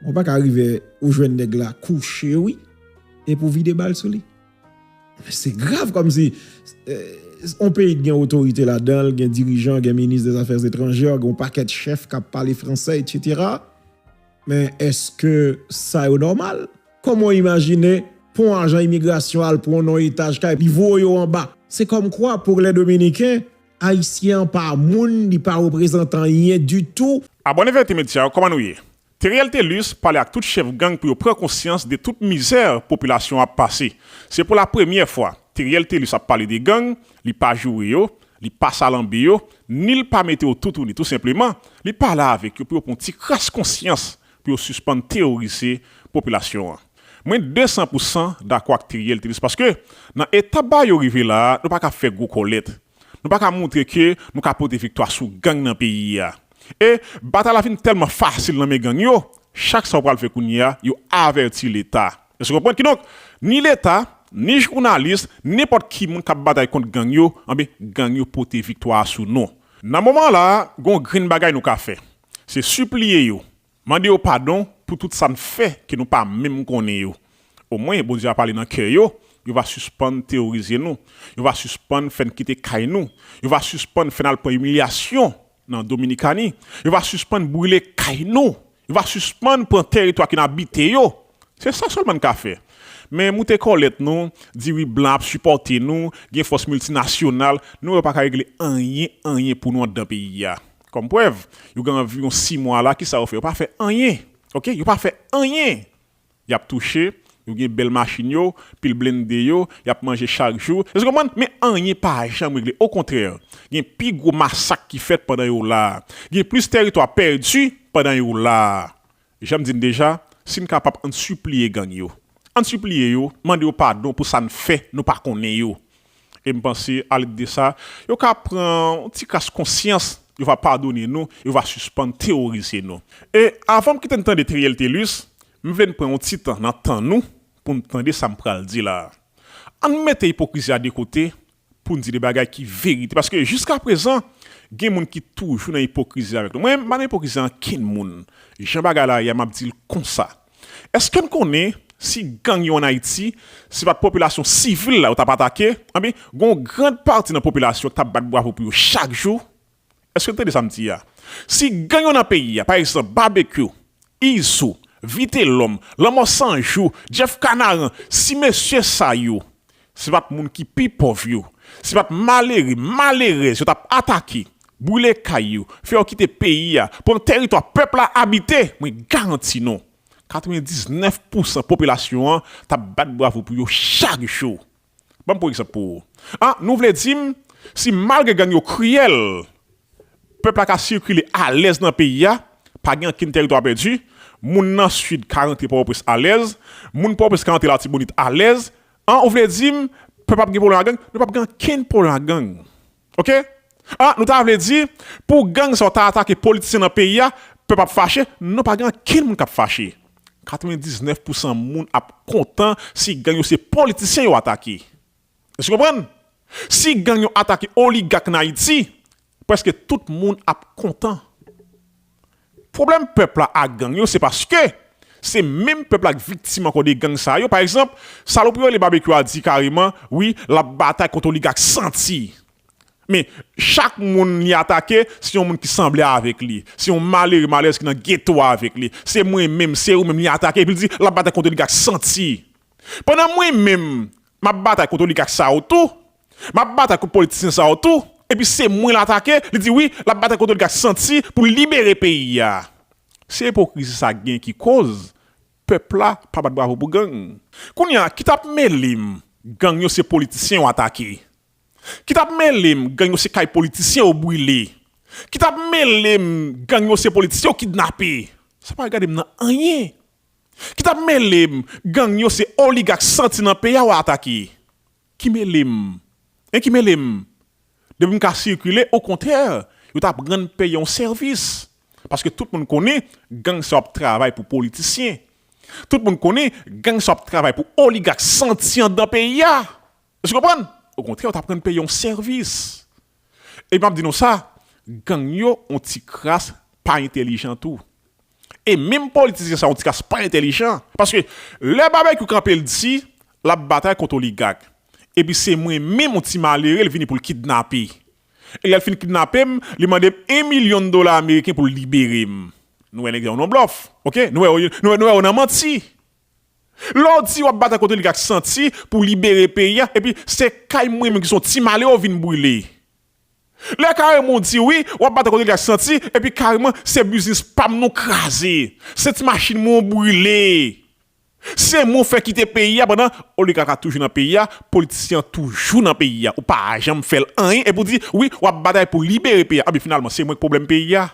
Bon paka rive ou jwenn nèg la kouche wi epi ou vide bal sou li. Se grav kòmsi yon peyi ki gen otorite ladan l, gen dirijan, gen minis de zafè etranjè, gen yon pakèt chèf kap pale fransè etsetera men eske sa yo nòmal? Kòman w imajine pou yon ajan imigrasyon al pran w nan yon etaj kay li voye w anba? Se kòmkwa pou lè dominiken Ayisyen an pa moun li pa reprezant anyen ditou. Abòne Verite Media kòman nou ye? Theriel Thelus pale ak tout chèf gang pou yo pran konsyans de tout mizè popilasyon an ap pase. Se pou la premyè fwa Theriel Thelus ap pale de gang, li pa joure yo, li pa salanbe yo, ni l pa mete yo toutouni tou senpleman, li pale avèk yo pou yo pran yon ti kras konsyans pou yo sispann teworize popilasyon an. Mwen 200 pou 100 dakò ak Theriel te di sa paske nan eta bagay yo rive la a nou pa ka fè gwo kòlèt. Nou pa ka moutre ke nou ka pote viktwa sou gang nan peyi a. E batay la vin tèlman fasil nan men gang yo, chak sa yo pral fè kounye a yo avèti leta. Èske w konprann? Kidonk, ni leta, ni jounalis, nenpòt ki moun k ap batay kont gang yo, anben gang yo pote viktwa a sou nou. Nan moman an la a, gen yon grenn bagay nou ka fè. Se sipliye yo, mande yo padon pou tout sa n fè ke nou pa menm konnen yo. Omwen, Bondye va pale nan kè yo, yo va sispann teworize nou, yo va sispann fè n kite kay nou, yo va sispann fè n al pran imilyasyon nan Dominikani, yo va sispann brile kay nou, yo va sispann pran tèritwa ke n abite yo. Se sa sèlman n ka fè. Men moute kòlèt nou, di wi blan ap sipòte nou, gen fòs miltinasyonal, nou wè yo pa ka regle anyen, anyen pou nou andan peyi a. Kòm prèv, yo gen anviwon 6 mwa la kisa yo fè? Yo pa fè anyen ok, yo pa fè anyen! Yap touche, yo gen bèl machin yo, pil blende yo, yap manje chak jou, èske w konprann? Men anyen pa janm regle, okontrè gen pi gwo masak ki fèt pandan yo la, gen plis tèritwa pèdi pandan yo la. Jan m di n deja, si n kapab ann sipliye gang yo. Ann sipliye yo, mande yo padon pou sa n fè nou pa konnen yo. E m panse alèd de sa, yo ka pran yon ti kras konsyans, yo va padone nou, yo va sispann teworize nou. E avan m kite n tande Theriel Thelus, m vle n pran yon ti tan nan tan nou pou n tande sa m pral di la a. Ann mete ipokrizi a de kote, Pou n di de bagay ki verite. Paske jiskaprezan, gen moun ki toujou nan ipokrizi avèk nou. Mwen pa nan ipokrizi a ankenn moun. Jan bagay la ye a, m ap di l konsa. Èske n konnen si gang yo ann Ayiti, se pa t popilasyon sivil la yo t ap atake? Anben, gen yon gran pati nan popilasyon k t ap bat bravo pou yo chak jou. Eske n tande sa m di a? Si gang yo nan peyi a, pa egzanp, Babekyou, Izou, Vitelòm, Lanmò 100 jou, Jeff Kanaran, si mesye sa yo se pa t moun ki pi pòv yo, se pa t malere, malerèz yo t ap atake, boule kay yo, fè yo kite peyi a, pran tèritwa pèp la abite, mwen garanti nou, 99 pousan popilasyon an t ap bat bravo pou yo chak jou. Ban m pou egzanp pou ou. Ah, nou vle di m, si malgre gang yo kriyèl, pèp la ka sikile alèz nan peyi a, pa gen ankenn tèritwa pèdi, moun nan Sid ka rantre Pòtoprens alèz, moun Pòtoprens ka rantre Latibonit alèz, ah ou vle di m, pèp ap gen pwoblèm ak gang? Nou p ap gen ankenn pwoblèm ak gang. Ok ah nou ta vle di pou gang sa yo ta atake politisyen nan peyi a pèp ap fache non pa gen ankenn moun kap fache 99 pou san moun ap kontan si gang yo se politisyen yo atake èske ou konprann si gang yo atake oligak nan ayiti prèske tout moun ap kontan. Pwoblèm pèp la ak gang yo se paske se menm pèp la k viktim ankò de gang sa yo, pa egzanp salopri yo rele Babekyou a di kareman wi l ap batay kont oligak santi men chak moun li atake se yon moun ki sanble avèk li, se yon malere malerèz ki nan geto a avèk li, se mwen menm, se ou menm li atake epi l di l ap batay kont oligak santi pandan mwen menm m ap batay kont oligak sa yo tou. Map batay kont politisyen sa yo tou epi se mwen l atake li di wi lap batay kont oligat santi pou l libere peyi a se ipokrizi sa gen ki koz pèp la pa bat bravo pou gang kounya ki tap mele m gang yo se politisyen yo atake ki tap mele m gang yo se kay politisyen yo brile ki tap mele m gang yo se politisyen yo kidnape sa pa regade m nan anyen ki tap mele m gang yo se oligak santi nan peyi a yo atake. Ki mele m? Hein ki mele m? Depi m ka sikile okontrè yo ta pran n peye yon sèvis paske tout moun konnen gang sa yo ap travay pou politisyen tout moun konnen gang sa yo ap travay pou oligak santi andan peyi a èske w konprann okontrè yo ta pran n peye yon sèvis epi m ap di nou sa gang yo yon ti kras pa entelijan tou E menm politisyen sa yo ti kas pa entelijan paske lè Babekyou kanpe l di lap batay kont oligak epi se mwen menm yon ti malere l vini pou l kidnape e lè l fin kidnape m li mande m 1 milyon dola ameriken pou l libere m nou wè nèg sa yo nan blòf ok nou wè yo nan manti lè w di wap batay kont oligak santi pou libere peyi a epi se kay mwen menm ki son ti malere w vin brile Lè kareman w di wi, w ap bat kote gaz santi, epi kareman se biznis pa m nou kraze, se ti machin mwen w brile, se mwen w fè kite peyi a pandan oligak la toujou nan peyi a, politisyen an toujou nan peyi a, ou pa janm fè l anyen epi w di wi w ap batay pou libere peyi a, anben finalman se mwen k pwoblèm peyi a.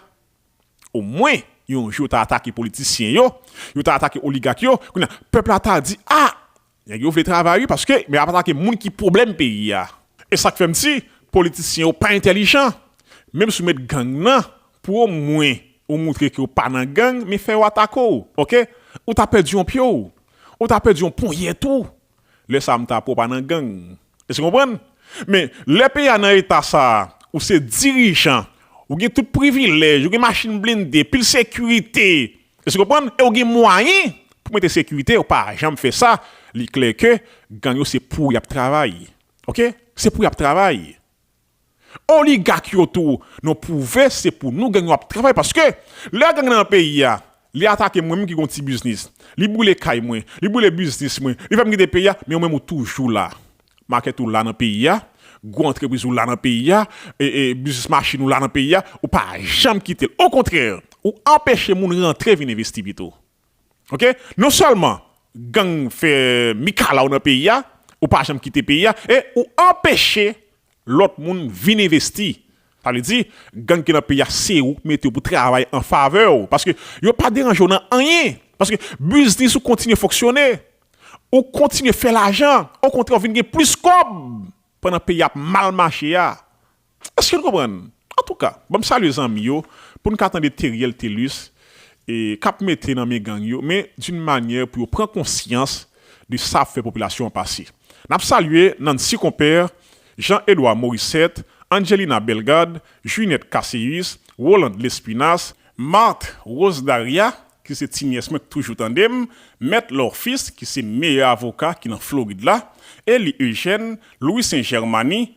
Omwen yon jou yo ta atake politisyen yo, yo ta atake oligak yo, kounye a pèp la ta di a Nèg yo vle travay wi paske yo ap atake moun ki pwoblèm peyi a. E sak fèm di politisyen yo pa entèlijan. Menm si w met gang nan pou o mwen ou moutre ke w pa nan gang men fè yo atake w ok. Ou ta pèdi yon pye w. Ou ta pèdi yon ponyèt ou. Lè sa m ta pè w pa nan gang. Èske w konprann? Men, lè peyi a nan eta sa a, ou se dirijan, ou gen tout privilèj, ou gen machin blende, pil sekirite, èske w konprann, e ou gen mwayen pou mete sekirite, ou pa janm fè sa, li klè ke gang yo se pou y ap travay. Ok? Se pou y ap travay. Oligak yo tou non pwouve se pou nou gang yo ap travay paske lè gang nan peyi a li atake mwen menm ki gon ti biznis li boule kay mwen li boule biznis mwen li fèm kite peyi a men ou menm ou toujou la makèt ou la nan peyi a gwo antrepriz ou la nan peyi a biznis machin ou la nan peyi a ou pa janm kitel okontrè ou anpeche moun rantre vin envesti pito ok non sèlman gang fè mikalaw nan peyi a ou pa janm kite peyi a e ou anpeche lòt moun vin envesti sa vle di gang ki nan peyi a se ou k mete yo pou travay an favè w paske yo pa deranje w nan anyen paske biznis ou kontinye fonksyone ou kontinye fè lajan okontrè w vin gen plis kòb pandan peyi a ap mal mache a. Eske n konprann? Antouka, banm salye zanmi yo pou n ka tande Theriel Thelus k ap mete nan men gang yo men d'une manière pou yo pran konsyans de sa ap fè popilasyon an pase. N ap salye Nancy Compère, Jean Edouard Morissette, Angelina Bellegarde, Juinette Casséus, Rolande Lespinasse, Marthe Rose Daria ki se ti nyès mwen k toujou tande m, Mèt Laure Fils ki se meyè avoka ki nan Florid la, Elie Eugène, Louissaint Germany,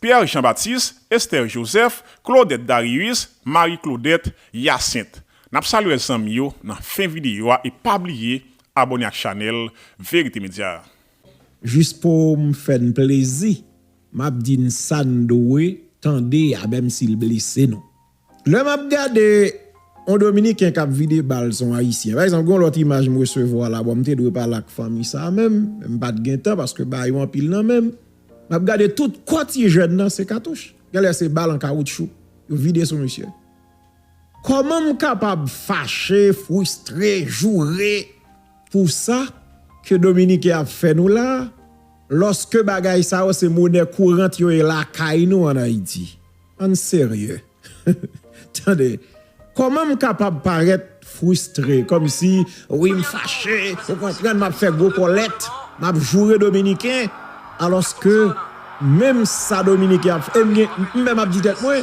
Pierre Jean Baptiste, Esther Joseph, Claudette Darius, Marie Claudette, Hyacinthe. Nap saluer zanmi yo nan fen video a e pa bliye abone ak chanel verite media a. Jis poum fè n plezi map di n sa n dwe tande a menm si l blese nou. Lè m ap gade yon dominiken k ap vide bal se yon ayisyen. Pa egzanp gen yon lòt imaj m resevwa la, bon m te dwe pale ak fanmi sa a menm, men m pa t gen tan paske ba yo anpil nan men m. M ap gade tout kò ti jèn nan se katouch, gen lè se bal an kawoutchou yo vide sou misye. Kòman m kapab fache, fristre, joure pou sa ke dominiken ap fè nou la a, lòske bagay sa yo se monè kourant yo e lakay nou an Ayiti? Ann serye Tande Kòman m kapab parèt fristre kòmsi wi m fache ou konprann m ap fè gwo kòlèt m ap joure dominiken alòske menm sa dominiken ap fè ebyen m menm ap di tèt mwen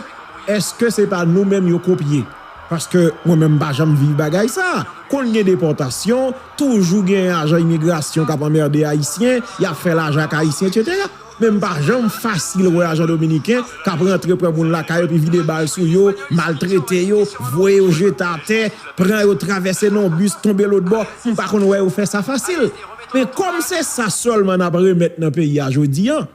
èske se pa nou menm yo kopye paske mwen menm m pa janm viv bagay sa konn gen depòtasyon toujou gen ajan imigrasyon k ap anmède ayisyen y ap fè lajan ak ayisyen etsetera. Men m pa janm fasil wè ajan dominiken k ap rantre pran moun lakay yo epi vide bal sou yo, maltrete yo, voye yo jete atè, pran yo travèse nan yon bis tonbe lotbò, m pa konn wè yo fè sa fasil. Men kòm se sa sèlman n ap remèt nan peyi a jodi an,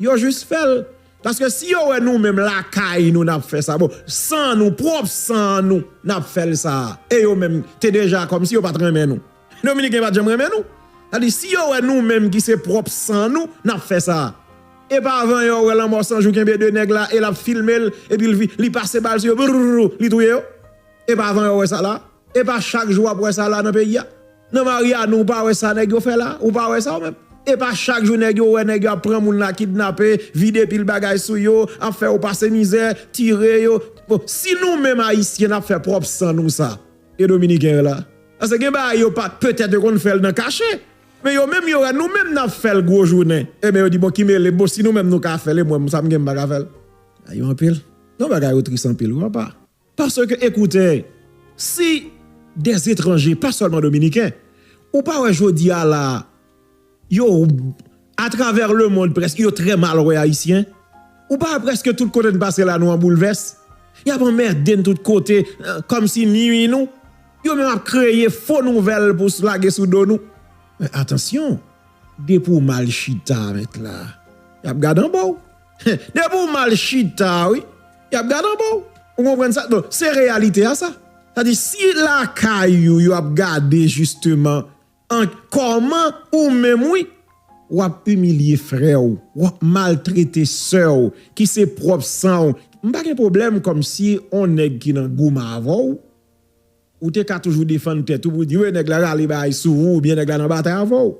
yo jis fè l. Paske si yo wè nou menm lakay nou n ap fè sa, bon, san nou, pwòp san nou n ap fè l sa a, e yo menm te deja kòmsi yo pa t renmen nou. Dominiken pat janm renmen nou. Sa di si yo wè nou menm ki se pwòp san nou nap fè sa. Epa avan yo wè lanmò san jou kenbe 2 nèg la e lap filmel epi li pase bal sou yo brrrr li touye yo. Epa avan yo wè sa la. Epa chak jou wap wè sa la nan peyi a. Nan Mariani ou pa wè sa nèg yo fè la. Ou pa wè sa ou menm. Epa chak jou nèg yo wè nèg yo ap pran moun la kidnape, vide pil bagay sou yo, ap fè yo pase mizè, tire yo. Bon si nou menm ayisyen nap fè pwòp san nou sa. e dominiken yo la pase gen bagay yo pa petèt yo konn fèl nan kache men yo menm yo wè nou menm nap fèl gwo jounen eben yo di bon ki melem bon si nou menm nou ka fèl e mwen sam gen m paka fèl bagay yo anpil non bagay yo tris anpil wi apa paske ekoute si des etranje pa sèlman dominiken ou pa wè jodi a la. Yo a travè le mond prèske yo trè mal wè Ayisyen. Ou pa wè prèske tout kote n pase la nou an boulvès? Y ap anmède n tout kote kòm si nui nou. Yo menm ap kreye fo nouvèl pou lage sou do nou. Men atansyon, depi w mal chita met la, y ap gad anba w. Depi w mal chita wi, y ap gad anba w. Ou konprann sa? Donk se reyalite a sa. Sa di si lakay ou yo ap gade jisteman. Anh kòman ou menm wi wap imilye frèw wap maltrete sèw ki se pwòp sanw m pa gen pwoblèm kòmsi on nèg ki nan goum avèw ou te ka toujou defann tèt ou pou di wi nèg la rale bagay sou ou oubyen nèg la nan batay avèw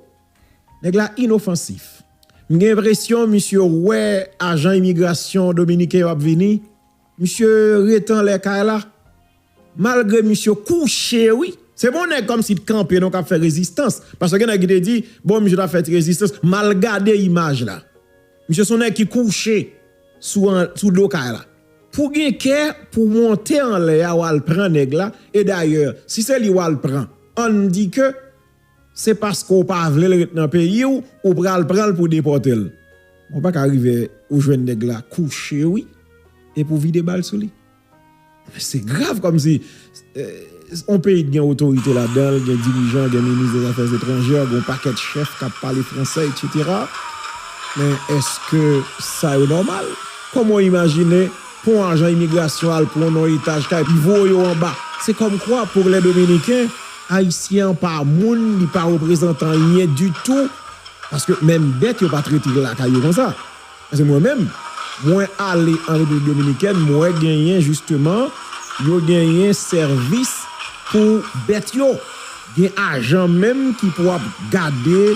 nèg la inofansif m gen enpresyon misye wè ajan imigrasyon dominiken yo ap vini Misye ret anlè kay la. Malgre misye kouche wi. Se bon nèg kòmsi t kanpe non kap fè rezistans. Paske gen nèg ki te di bon misye tap fè ti rezistans. Mal gade imaj la. Misye son nèg ki kouche sou do kay la. Pou gen kè pou monte anlè a wal pran nèg la e dayè si se li wal pran ann di ke Se paske w pa vle l ret nan peyi w ou pral pran l pou depòte l. Ou pa ka rive ou jwenn nèg la kouche wi epi w vide bal sou li. Men se grav kòmsi yon peyi ki gen otorite ladan l, gen dirijan, gen minis dè zafè etranjè, gen yon pakèt chèf k ap pale fransè etsetera. Men èske sa yo nòmal? Kòman w imajine pou yon ajan imigrasyon al pran yon etaj kay pi wo yo anba? Se kòmkwa pou lè dominiken Ayisyen an pa moun li pa reprezantan anyen ditou paske menm bèt yo pa trete l lakay yo konsa paske mwen menm mwen ale an Repiblik Dominikèn m wè genyen jisteman yo genyen sèvis pou bèt yo gen ajan menm ki pou ap gade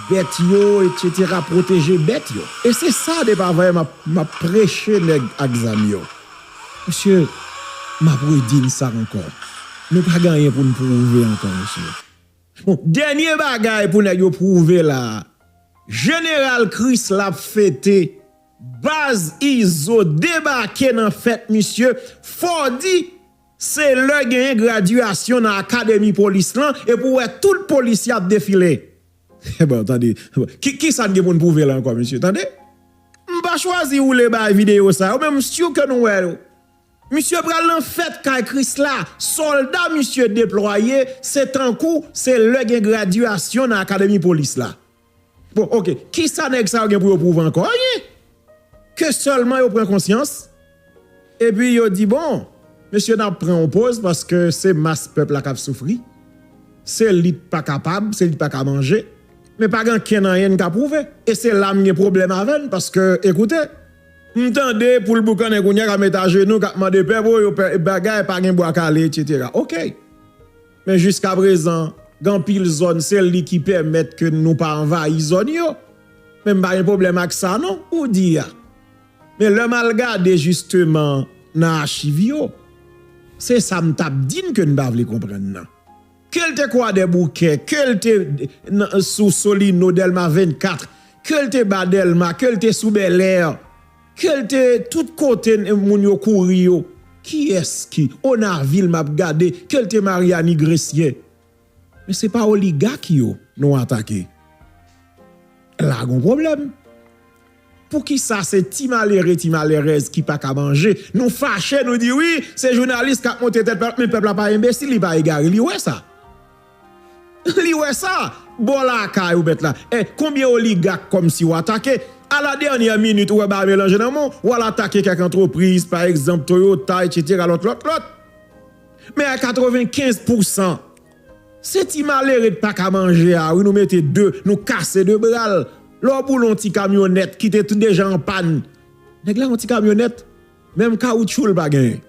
bèt yo etsetera pwoteje bèt yo e se sa depa vayè m ap preche nèg ak zam yo Mesye, m ap redi n sa ankò, nou pa gen anyen pou n pwouve ankò mesye. Bon, dènye bagay pou nèg yo pwouve la a, Jeneral Kris la ap fete, baz Izo debake nan fèt misye, Fòdi se lè genyen gradyasyon nan akademi polis lan epi w wè tout polisye ap defile. Bon tande Kisa n gen pou n pwouve la ankò mesye tande M pa chwazi woule bay videyo sa yo men m sur ke nou wè yo Misye pral nan fèt kay Krisla Sòlda misye deplwaye se tankou se lè gen gradyasyon nan akademi polis la Bon ok Kisa nèg sa yo gen pou yo pwouve ankò Anyen Ke sèlman yo pran konsyans Epi yo di bon mesye nap pran yon poz paske se mas pèp la kap soufri se li t pa kapab se li t pa ka manje men pa gen ankenn anyen n ka pwouve e se la m gen pwoblèm avè n paske ekoute m tande poul boukannen kounya kap met ajenou kap mande pèp o yo pè bagay pa gen bwa kale etc ok men jiska prezan gen anpil zòn se li ki pèmèt ke nou pa anvayi zòn yo men m pa gen pwoblèm ak sa non ou di a. Men lè m al gade jisteman nan achiv yo, se sa m t ap di n ke n pa vle konprann nan. Ke l te Kwadèboukè, ke l te sou Solino, Dèlma 24, ke l te ba Dèlma, ke l te sou Bèlè, ke l te tout kote moun yo kouri yo, kiyès ki, Onavil m ap gade, ke l te Maryani, Gresye. Men se pa oligak yo nou atake. La gon pwoblèm. Poukisa se ti malere, ti malerèz ki pa ka manje, nou fache nou di wi, se jounalis k ap monte tèt pèp la, men pèp la pa enbesil, li pa egare, li wè sa. Li wè sa, bò lakay ou mèt la. E konbyen oligak kòmsi w atake, a la dènyè minit ou wè bagay melanje nan men w, w al atake kèk antrepriz, pa egzanp Toyota, etsetera, lòt, lòt, lòt. Men a 95 pousan se ti malere t paka manje a wi nou mete de nou kase de bral lè w boule yon ti kamyonèt ki te deja an pàn nèg la yon ti kamyonèt menm kawoutchou l pa genyen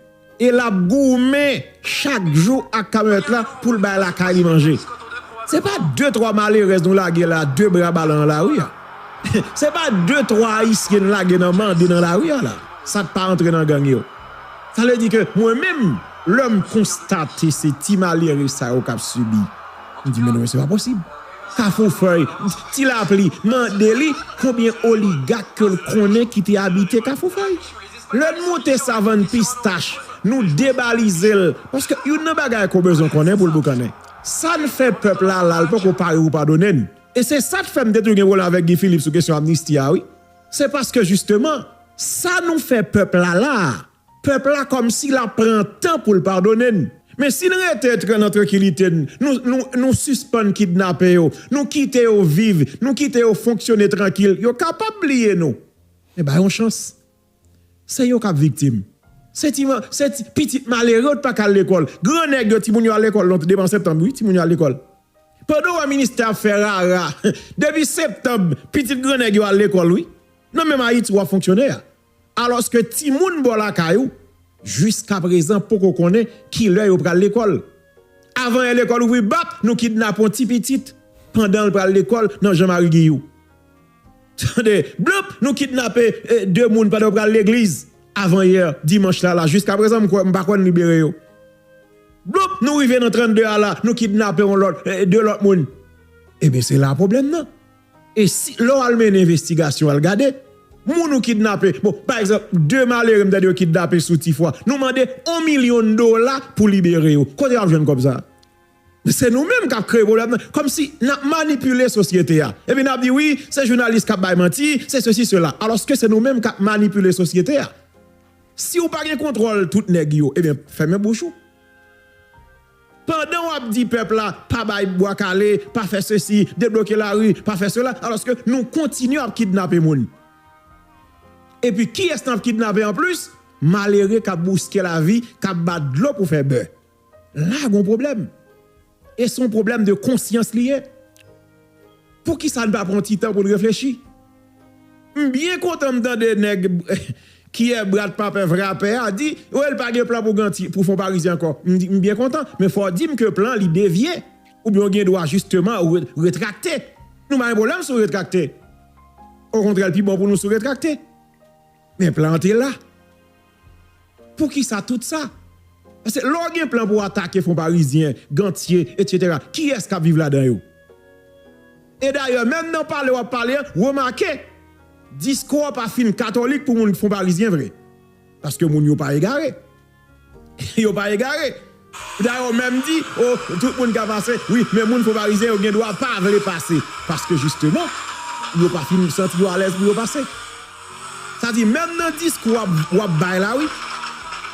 e lap goumen chak jou ak kamyonèt la pou l bay lakay li manje se pa de twa malerèz nou lage la de bra bale nan lari a se pa de twa ayisyen n lage nan mande nan lari a la sa k pa antre nan gang yo. Sa vle di ke mwen menm, lè m konstate se ti malere sa yo k ap sibi, m di men non men se pa posib. Kafoufèy, Ti Lapli mande li konbyen oligak ke l konnen ki te abite Kafoufèy. Lè n monte Savann Pistach, nou debalize l, paske youn nan bagay ke w bezwen konnen pou l boukannen, sa n fè pèp la la l poko pare pou padone n. E se sa k fè m te tou gen pwoblèm avèk Guy Philippe sou kesyon amnisti a wi. Se paske jisteman, sa nou fè pèp la la, pèp la kòmsi l ap pran tan pou l padone n. Men si n rete tran nan trankilite n, nou sispann kidnape yo, nou kite yo viv, nou kite yo fonksyone trankil, yo kapab bliye nou. Men ba yon chans. Se yo k ap viktim. Se ti pitit malere yo t pa ka al lekòl. Gran nèg yo, timoun yo al lekòl non demen an septanm wi, timoun yo al lekòl. Pandan w wè ministè ap fè rara depi septanb pitit gran nèg yo al lekòl wi nan menm ayiti wap fonksyone a alòske timoun bò lakay ou jiskaprezan poko konnen kilè yo pral lekòl avan è lekòl ouvri bap nou kidnapon ti pitit pandanl pral lekòl nan jan mari giyou. Tande, blup! Nou kidnape 2 moun pandan yo pral legliz avan yè dimanch la la, jiskaprezan m kwè, m pa kwè n libere yo. Blup! Nou rive nan 32 a la, nou kidnape yon lòt, 2 lòt moun. Ebyen se la pwoblèm nan. E si, lè w al mennen envestigasyon, al gade, moun ou kidnape, bon, pa egzanp, 2 malere m tande yo kidnape sou Tifwa, nou mande 1 milyon dola pou libere yo. Kote y ap jwenn kòb sa a? Se nou menm kap kreye pwoblèm nan, kòmsi nap manipile sosyete a. Epi nap di wi, se jounalis kap bay manti, se sesi sela. Alòske se nou menm kap manipile sosyete a. Siw pa gen kontwòl tout nèg yo, ebyen fèmen bouch ou. Pandan wap di pèp la pa bay bwa kale, pa fè sesi, debloke lari, pa fè sela, alòske nou kontinye ap kidnape moun. Epi kiyès nap kidnape anplis? Malere kap bouske lavi, kap bat dlo pou fè bè. La gon pwoblèm. E son pwoblèm de konsyans li ye. Poukisa n pa pran yon ti tan pou n reflechi? M byen kontan m tande nèg kiyè brat papè vrapè a di oh l pa gen plan pou ganti pou fonparizyen ankò. M byen kontan men fò w di m ke plan an li devye oubyen w gen dwa jisteman retrakte. Nou pa gen pwoblèm si w retrakte. Okontrè l pi bon pou nou si w retrakte. Men plan an te la. Poukisa tout sa? Paske lè w gen plan pou w atake Fonparizyen, Gantye, etc. Kiyès k ap viv ladan yo? E dayè, menm nan pale w ap pale an, remake, diskou w pa fin katolik pou moun Fonparizyen vre. Paske moun yo pa egare. Yo pa egare. Pita yo menm di, O, tout moun ka pase, wi, men moun fo Farizyen yo gen dwa pa vle pase, paske jisteman, yo pa fin santi yo alèz pou yo pase. Sa di, menm nan diskou w ap bay la, wi,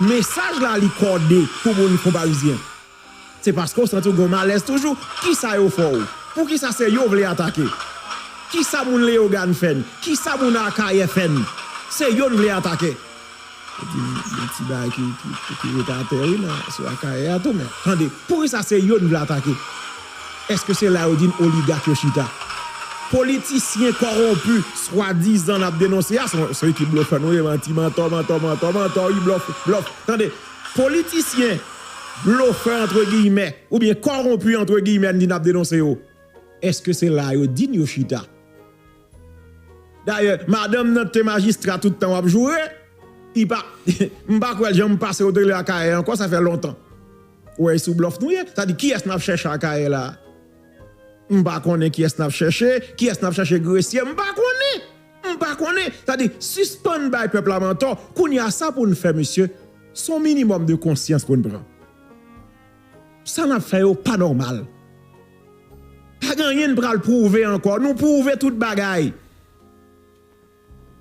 mesaj la li kòde pou moun fo Farizyen. Se paske w santi w gen yon malèz toujou. Kisa yo fè w? Poukisa se yo w vle atake? Kisa moun Leyogàn fè n? Kisa moun Akayè fè n? Se yo n vle atake. Epi gen ti bagay ki ret atè wi nan sou Akayè a tou men tande. Poukisa se yo n vle atake? Eske se la yo di n oligak yo chita? Politisyen kowonpi swadizan n ap denonse a, se yon ekip blofè nou ye, manti, mantò, mantò, mantò, mantò wi blòf, blòf. Tande, politisyen blofè antre giyimè oubyen kowonpi antre giyimè n di n ap denonse yo, eske se la yo di n yo chita? Dayè madanm nan te majistra tout tan wap joure I pa m pa kwè l jan m pase ou te rele akayè ankò sa fè lontan ou wè e sou blòf nou ye sa di kiyès nap chèche akayè la m pa konnen kiyès nap chèche kiyès nap chèche gresye m pa konnen m pa konnen sa di sispann bay pèp la mantò kounya sa pou n fè mesye son minimòm de konsyans pou n pran sa nap fè yo pa nòmal. Pagen anyen n pral pwouve ankò nou pwouve tout bagay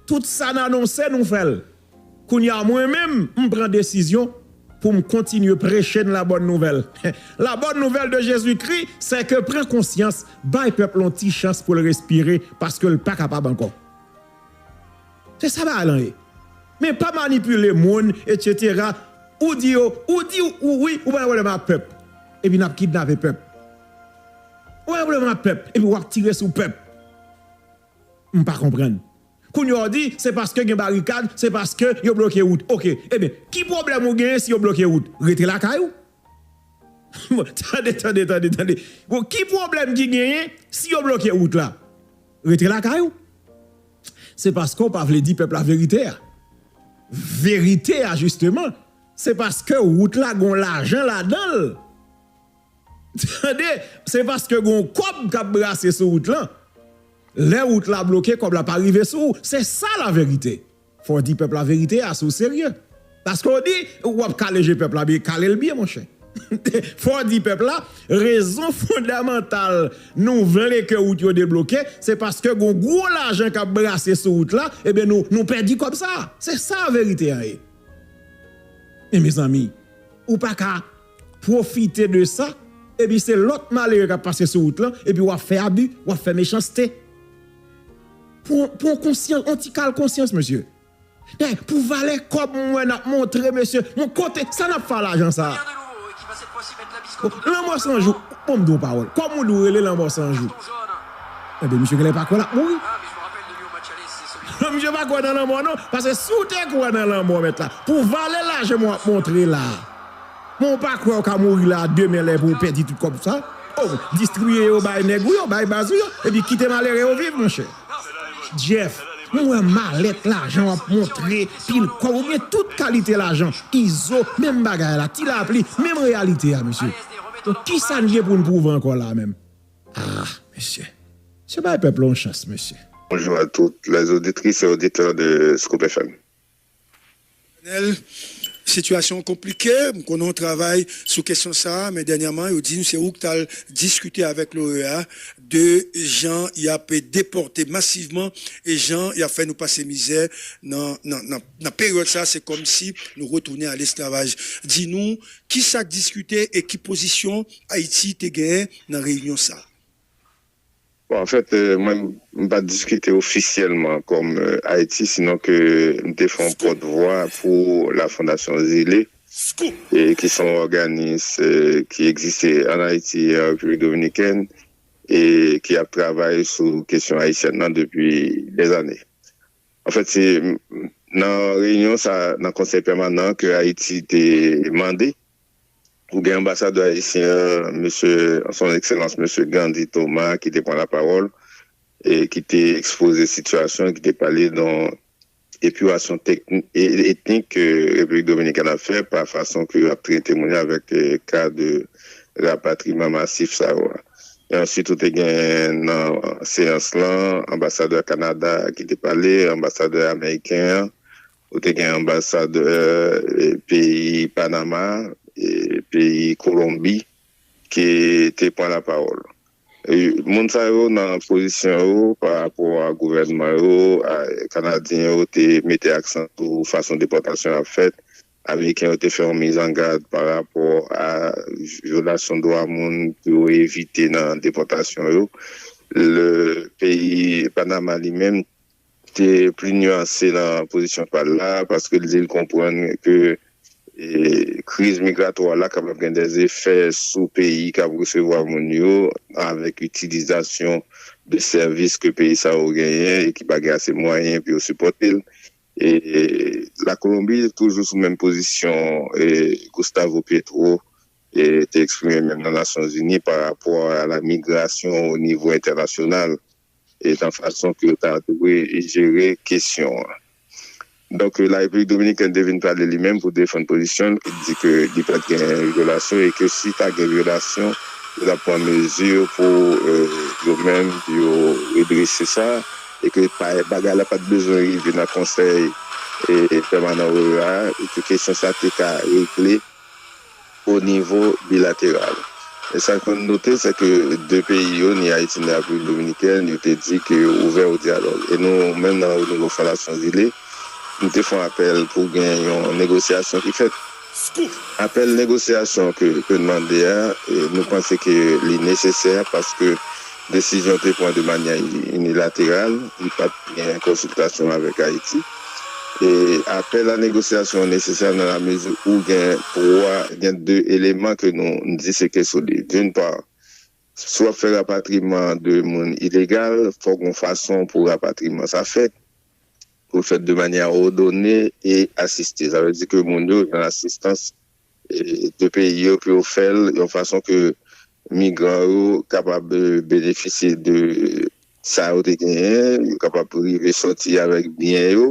tout sa n anonse nou fè l kounya mwen menm m pran desizyon pou m kontinye preche n labòn nouvèl labòn nouvèl de Jezikri sèke pran konsyans bay pèp la yon ti chans pou l respire paske l pa kapab ankò se sa bagay lan ye men pa manipile moun etc ou di yo ou di w ou wi ou pa gen pwoblèm ak pèp. Epi nap kidnape pèp. Ou yon pwoblèm ak pèp epi wap tire sou pèp. M pa konprann. Kounya w di se paske gen barikad, se paske yo bloke wout. Ok. Ebyen, ki pwoblèm ou genyen si yo bloke wout? Rete lakay ou. Bon, tande, tande, tande, tande. Bon, ki pwoblèm ki genyen si yo bloke wout la? Rete lakay ou. Se paske w pa vle di pèp la verite a. Verite a jisteman, Se paske wout la gon lajan ladanl tande se paske gon kòb kap brase sou wout lan lè wout la bloke kòb la pa rive sou ou se sa la verite fòw di pèp la verite a si w serye paske w di wap kale je pèp la byen kalel byen monchè fòw di pèp la rezon fondamantal nou vle ke wout yo debloke se paske gon gwo lajan kap brase sou wout la ebyen nou pèdi kòb sa se sa verite a ye. Men mezanmi ou pa ka pwofite de sa epi se lòt malere k ap pase sou wout lan epi w ap fè abi, w ap fè mechanste. Pran konsyans, yon ti kal konsyans mesye. Pou valè kòb m wè n ap montre mesye, bon kote, sa n ap fè a lajan sa a? Lanmò san jou, bon m di w yon pawòl, kòman w di w rele Lanmò san jou? Ebyen misye genlè pa kwè lap mouri. Misye pa kwè nan lanmò non. Paske si w te kwè nan lanmò mèt la, pou vale lajan mwen wap montre la, men w pa kwè w ka mouri la a demen lè pou w pèdi tout kòb sa a. Oh, distribiye yo bay nèg ou yo, bay baz ou yo, epi kite malere yo viv monchè. Jeff, mwen wè malèt lajan wap montre, pil kòb, ou gen tout kalite lajan. Izo, menm bagay la, Tilapli, menm reyalite a mesye. Donk kisa n gen pou n pwouve ankò la a menm? Ah mesye. Se bay pèp la yon chans mesye. Bonjou a tout les auditrices et auditeurs de Scoop FM. Lionel, sitiyasyon an konplike, m konnen w travay sou kesyon sa a, men dènyaman yo di m se ou k t al diskite avèk l'OEA de jan y ap depòte masivman e jan y ap fè nou pase mizè nan peryòd sa a, se kòmsi nou retounen a lesklavaj. Di nou kisa k diskite e ki pozisyon Ayiti te genyen nan reyinyon sa a. Bon, anfèt, mwen m pa t diskite ofisyèlman kòm Ayiti, sinon ke m te fè yon pòt vwa pou La Fondation Zile, ki se yon òganis ki egziste ann Ayiti e an Repiblik Dominikèn e ki ap travay sou kesyon ayisyèn nan depi dèzane. Anfèt, se nan reyinyon sa a, nan Konsèy Pèmanan an, ke Ayiti te mande Ou gen anbasadè ayisyen an, mesye Son Ekselans Mesye Gandhi Thomas ki te pran lapawòl e ki te ekspoze sitiyasyon an, ki te pale de epurasyon etnik ke Repiblik Dominikèn ap fè pa fason ke yo ap trete moun yo avèk ka de rapatriman masif sa yo a. E ansuit ou te gen nan seyans lan anbasadè Kanada ki te pale, anbasadè ameriken an, Ou te gen anbasadè peyi Panama, peyi Kolonbi ki te pran lapawòl. Moun sa yo nan pozisyon yo pa rapò a gouvènman yo, Kanadyen yo te mete aksan sou fason depòtasyon ap fèt, Ameriken yo te fè yon mizangad pa rapò a vyolasyon dwa moun pou yo evite nan depòtasyon yo. Peyi Panama li menm te pli nuanse nan pozisyon pa l la, paske l di l konprann ke kriz migratwa la kapab gen dè efè sou peyi k ap resevwa moun yo, avèk itilizasyon de sèvis ke peyi sa yo genyen e ki pa gen ase mwayen pou yo sipòte l. La Kolonbi, toujou sou menm pozisyon Gustavo Petro, te eksprime menm nan Nasyonzini parapò a la migrasyon o nivo entènasyonal. e nan fason ke yo ta dwe jere kesyon an. Donk La Repiblik Dominikèn te vin pale li menm pou defann pozisyon l ki t di ke li pa t gen vyolasyon e ke si ta gen vyolasyon yo t ap pran mezi pou yo menm yo redrese sa e ke bagay la pa t bezwen rive nan Konsèy Pèmanan OEA a e ke kesyon sa te ka regle o nivo bilateral. E sa ke nou note se ke 2 peyi yo, ni Ayiti ni Repiblik Dominikèn, yo te di ke yo ouvè o dyalòg. E nou menm nan o nivo Fondasyon Zile, nou te fè yon apèl pou gen yon negosyasyon ki fèt. Scoop! Apèl negosyasyon ke nou mande a, nou panse ke li nesesè paske Desizyon te pran de manyè inilateral, li pa t gen konsiltasyon avèk Ayiti. E apèl a negosyasyon an nesesè nan lamezi ou gen twa, gen de eleman ke nou di se kle sou li. D'une part, si w ap fè rapatriman de moun ilegal, fò gen yon fason pou rapatriman sa fèt, pou l fèt de manyè òdone e asiste. Sa vle di ke moun yo gen asistans 2 peyi yo pou yo fè l yon fason ke migran yo kapab benefisye de sa yo te genyen, yo kapab rive sòti avèk byen yo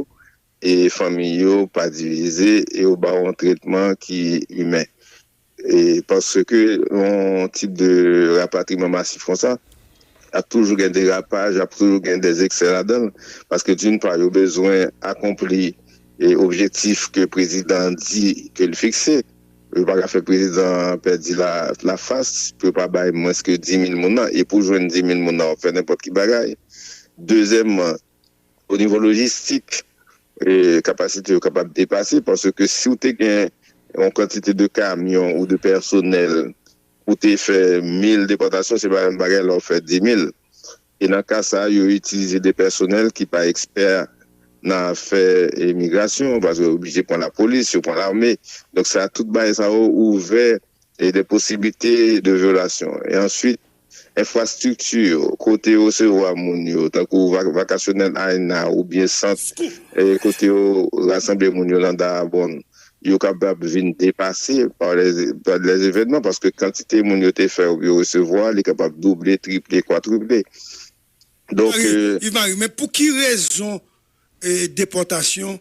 e fanmi yo pa divize e yo ba yon tretman ki imen. Paske yon tip de rapatriman masif konsa ap toujou gen derapaj, ap toujou gen dezèksè ladan l, paske d'une part yo bezwen akonpli. e objektif ke prezidan an di ke li fikse yo pa ka fè prezidan an pèdi la fas pou yo pa bay mwens ke 10 mil moun nan e pou jwenn 10 mil moun nan wap fè nenpòt ki bagay dezyèmman o nivo lojistik e kapasite yo kapab depase paske si ou te gen yon kantite de kamyon ou de pèsonèl pou te fè mil depòtasyon se pa menm bagay lè wap fè 10 mil. e nan ka sa a yo itilize de pèsonèl ki pa ekspè nan afè migrasyon paske yo oblije pran lapolis, yo pran lame donk sa tout bagay sa yo ouvè de posiblite de vyolasyon e answit enfrastrikti yo kote yo resevwa moun yo tankou vakasyonèl Aena oubyen sant kote yo rasanble moun yo nan Daabonn yo kapab vin depase pa lè evènman paske kantite moun yo te fè oubyen yo resevwa li kapab double, triple, kwatriple. Yves Marie, men pou ki rezon depòtasyon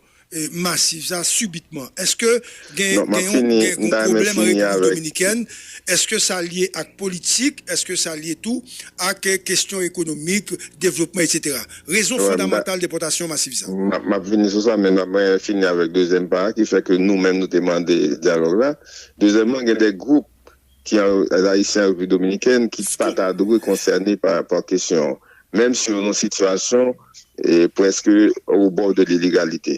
masiv sa sibitman? Eske gen yon pwoblèm an Repiblik Dominikèn? Eske sa lye ak politik? Eske sa lye tou ak kestyon ekonomik, devlopman, etc? Rezon fondamantal depòtasyon masif sa. M ap vini sou sa, men m ap fini avèk dezyèm pa a ki fè ke nou menm nou te mande dyalòg la. Dezyèmman, gen de gwoup ki an Ayisyen an Repiblik Dominikèn ki pa ta dwe konsène pa rapò ak kesyon an, menm si yo nan yon sitiyasyon prèske obò de lelegalite.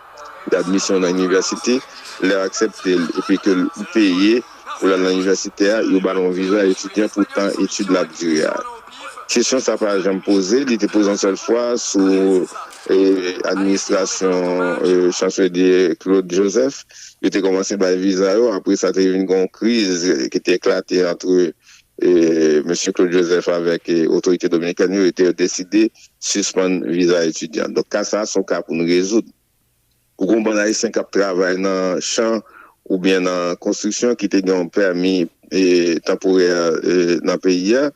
D'admisyon nan inivèsite, lè yo aksepte l epi ke l ou peye pou l al nan inivèsite a, yo ba l yon viza etidyan pou tan etid la ap dire a. Kesyon sa pa janm poze, li te poze yon sèl fwa sou administrasyon Chanselye Claude Joseph. Yo te kòmanse bay viza yo, apre sa te vin gen yon kriz ki te eklate antre Mesye Claude Joseph avèk otorite dominikèn yo te deside sispann viza etidyan. Donk ka sa a se yon ka pou nou rezoud. Ou gen yon bann Ayisyen k ap travay nan chan oubyen nan konstriksyon ki te gen yon pèmi tanporè nan peyi a.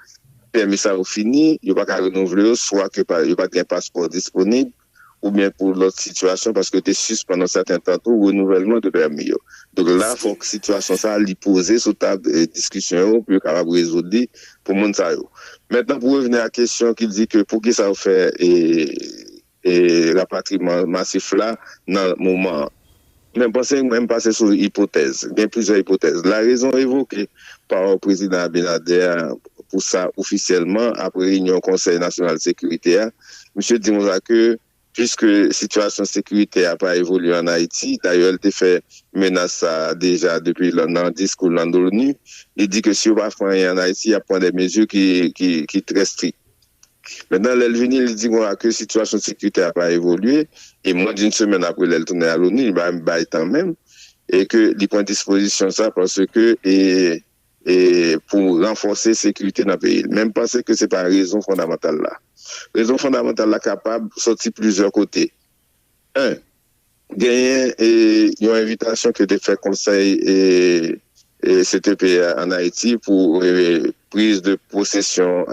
Pèmi sa yo fini, yo pa ka renouvle yo, swa ke yo pa t gen paspò disponib. oubyen pou lòt sitiyasyon paske yo te sispann yon sèten tan tou renouvèlman de pèmi yo. Donk la fòk sitiyasyon sa li poze sou tab diskisyon yo pou yo kapab rezoud li pou moun sa yo. Mentnan pou revni a kesyon ki di ke poukisa yo fè rapatriman masif la nan moman an. Men panse mwen, m pase sou ipotèz. Gen plizyè ipotèz. La rezon evoke pa Prezidan Abinader a pou sa ofisyèlman apre reyinyon Konsèy Nasyonal Sekirite a, misye di konsa ke puiske sitiyasyon sekiritè a pa evolye an Ayiti, dayè l te fè menas sa a deja depi nan diskou l nan Loni, li di ke si yo pa fè anyen an Ayiti, y ap pran de mezi ki trè strik. Mètnan lè l vini li di mwen a ke sitiyasyon sekirite a pa evolye e mwen di n semèn apre lè l tounen a loni li pa menm bay tan menm e ke li pran dispozisyon sa paske e e pou ranfòse sekirite nan peyi l men m panse ke se pa rezon fondamantal la. Rezon fondamantal la kapab sòti plizyè kote. 1. Genyen yon envitasyon ke te fè konsèy CTP a an Ayiti pou priz de posesyon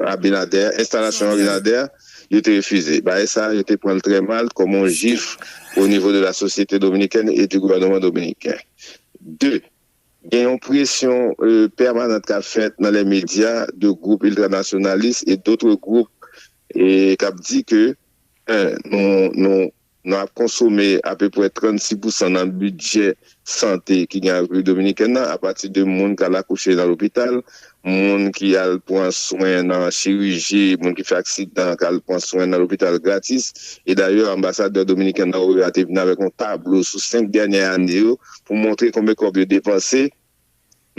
Abinader, enstalasyon Abinader, yo te refize. Bagay sa a yo te pran l trè mal kòm yon jif o nivo de la sosyete dominikèn e di gouvèneman dominiken. 2, Gen yon presyon pèmanant k ap fèt nan lè medya de gwoup iltranasyonalis e dotre gwoup k ap di ke Nou ap konsome apeprè 36 pousan nan bidjè sante ki gen nan Repiblik Dominikèn nan apati de moun k al akouche nan lopital, moun ki al pran swen nan chiriji, moun ki fè aksidan k al pran swen nan lopital gratis. E dayè anbasadè dominiken nan OEA te vin avèk yon tablo sou 5 dènyè ane yo pou montre konbe kòb yo depanse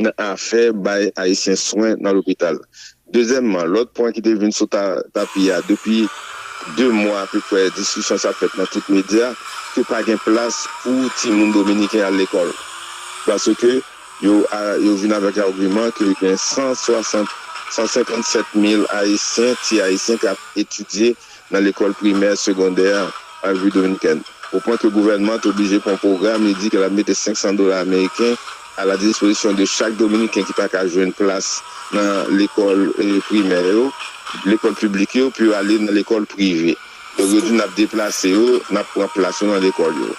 nan afè bay Ayisyen swen nan lopital. Dezyèmman, lòt pwen ki te vin sou tapi a depi 2 mwa apeprè, diskisyon sa fèt nan tout medya, ke pa gen plas pou timoun dominiken al lekòl. Paske yo vin avèk agiman ke gen 160, 157 mil Ayisyen, ti Ayisyen k ap etidye nan lekòl primè, segondè a, an Repiblik Dominikèn, o pwen ke gouvènman an te oblije pran yon pwogram li di ke l ap mete 500 dola ameriken a la dispozisyon de chak Dominiken ki pa ka jwenn plas nan lekòl primè yo, lekòl piblik yo, pou yo ale nan lekòl prive. Donk yo di n ap deplase yo, n ap pran plas yo nan lekòl yo.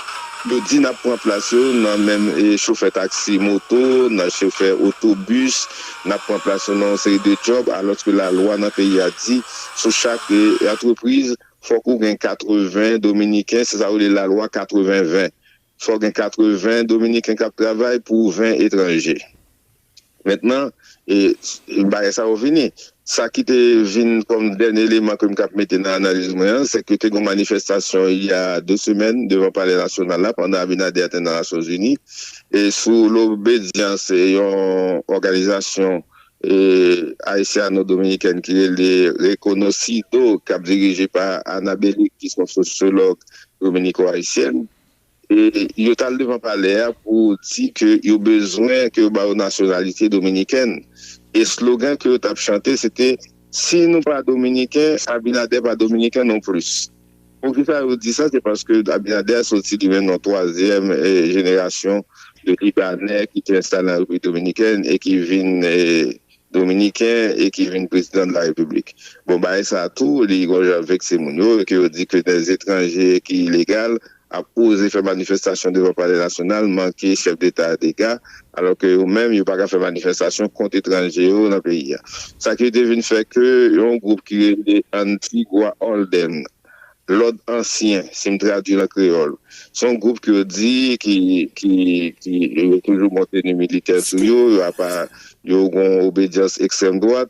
Yo di n ap pran plas yo nan men chofè taksi moto, nan chofè otobis, n ap pran plas yo nan yon seri de djòb, alòske lalwa nan peyi a di, Sou chak antrepriz, fòk ou gen 80 dominiken, se sa yo rele lalwa 80 20. Fòk gen 80 dominiken k ap travay pou 20 etranje. Mentnan, bagay sa yo vini. Sa ki te vin kòm dènye eleman ke m kab mete nan analiz mwen an, se ke te gen yon manifestasyon il y a 2 semèn devan palè nasyonal la pandan Abinader a te nan Nasyonzini sou lobedyans yon òganizasyon e ayisyano-dominikèn ki rele Reconocido k ap dirije pa Ana Beliz ki son sosyològ dominiko-ayisyèn e yo t al devan palè a pou di ke yo bezwen ke yo ba yo nasyonalite dominikèn e slogan ke yo t ap chante se te Si nou pa dominiken, Abinader pa dominiken non plis. Poukisa yo di sa, se paske Abinader soti li menm nan twazyèm jenerasyon de Libanè ki te enstale nan Repiblik Dominikèn e ki vin Dominiken e ki vin prezidan de la Repiblik. Bon, bagay sa tou, li gon jan vekse moun yo e ke yo di ke des etranje ki ilegal ap oze fè manifestasyon devan palè nasyonal manke chèf deta a dega alò ke yo menm yo pa ka fè manifestasyon kont etranje yo nan peyi a. Sa ki te vin fè ke yon gwoup ki rele Antigua Holden, Lòd Ansyen, si m tradui l an kreyòl, se yon gwoup ke yo di ki, ki, ki, yo toujou bon teni militè sou yo, yo apa, yo gen yon obedyans ekstrèm dwat,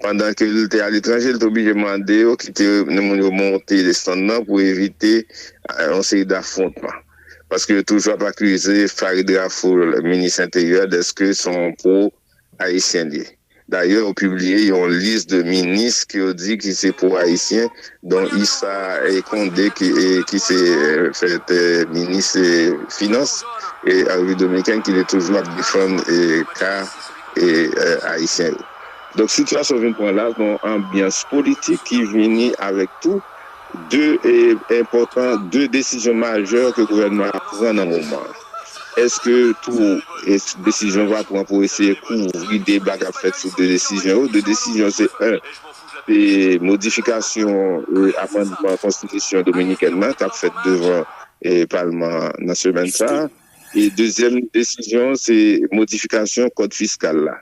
Pandan ke l te aletranje, l te oblije mande yo kite moun yo monte desann nan pou evite yon seri dafwontman. Paske yo toujou ap akize Farid Rafoul, minis enteryè, dèske se yon pwo ayisyen l ye. Dayè yo pibliye yon lis de minis ke yo di ki se pwo ayisyen, don Issa Conde ki se fèt minis finans an Repiblik Dominiken ki te toujou ap defann ka ayisyen yo. Donk sitiyasyon vin pran la yon anbyans politik ki vini avèk tou 2 enpòtan 2 desizyon majè ke gouvènman an ap pran nan moman an. Eske tou desizyon va pran pou eseye kouvri deba kap fèt sou 2 desizyon yo? 2 desizyon yo se 1 se modifikasyon amandman konstitisyon dominikèn nan kap fèt devan palman an nan semèn sa a e dezyèm desizyon se modifikasyon kòd fiskal la.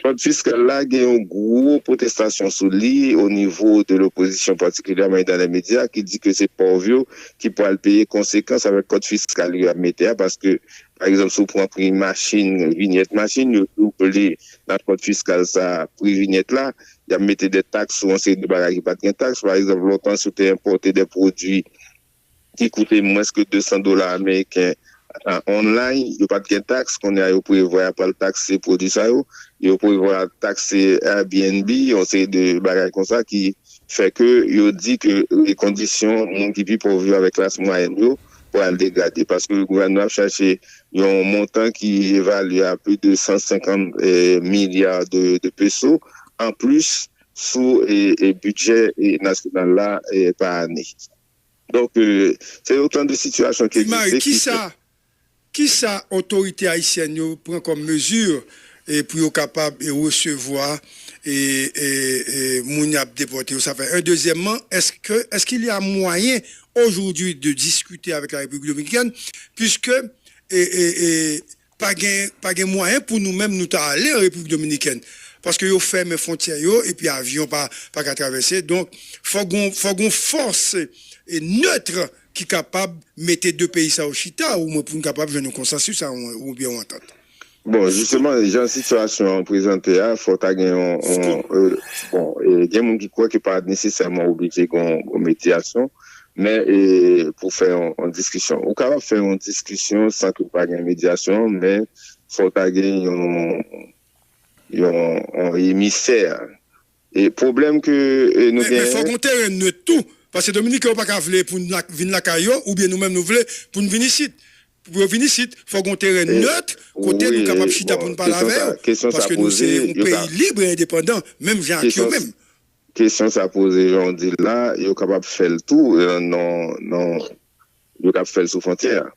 Frod fiskal la gen yon gwo pwotestasyon sou li o nivo de lopozisyon patikilyaman e dan lè medya ki di ke se pòv yo ki pwal peye konsekans avèk kòd fiskal yo ap mete a paske pa egzanp si w pran pri machin vinyèt machin yo double nan kòd fiskal sa pri vinyèt la y ap mete de taks sou yon seri de bagay ki pat gen taks pa egzanp lontan si w te enpòte de pwodui ki koute mwens ke 200 dola ameriken online, yo pat gen taks, kounye a yo prevwa yap pral takse pwodwi sa yo, yo prevwa takse Airbnb, yon seri de bagay konsa ki fè ke yo di ke kondisyon moun ki pi pòv yo avèk klas mwayèn yo pral degrade paske gouvènman ap chache yon montan ki evalye a plis de 150 milya de peso anplis sou bidjè nasyonal la pa ane. Donk, se otan de sitiyasyon ki egziste. Ti Mari, kisa otorite ayisyèn yo pran kòm mezi pou yo kapab resevwa moun y ap depòte yo? Sa fè 1. Dezyèmman, èske il y a moyen aujourd'hui de discuter avec la République dominicaine puisque Pa gen pa gen mwayen pou nou menm nou ta ale an Repiblik Dominikèn paske yo fèmen fontyè yo epi avyon pa pa ka travèse donk fòk gon fòk gon fòs neutre ki kapab mete 2 peyi sa yo chita o mwen pou nou kapab jwenn yon konsansis a yon oubyen yon antant. Bon jisteman jan sitiyasyon an prezante a fòk ta gen yon yon bon gen moun ki kwè ke pa nesesèman oblije gon gon medyasyon Men e pou fè yon diskisyon. Ou kapab fè yon diskisyon san ke pa gen medyasyon, men fò ta gen yon yon emisè. E pwoblèm ke nou genyen. Men fòk yon teren nwit tou. Paske Dominiken yo pa ka vle pou nou vin lakay yo, oubyen nou menm nou vle pou nou vin isit. Pou yo vin isit, fòk yon teren nwit kote nou kapab chita pou nou pale avè yo. Paske nou se yon peyi lib e endepandan, menm jan ak yo menm. Kesyon sa poze jan w di l la, yo kapab fè l tou nan nan yo tap fè l sou fontyè a.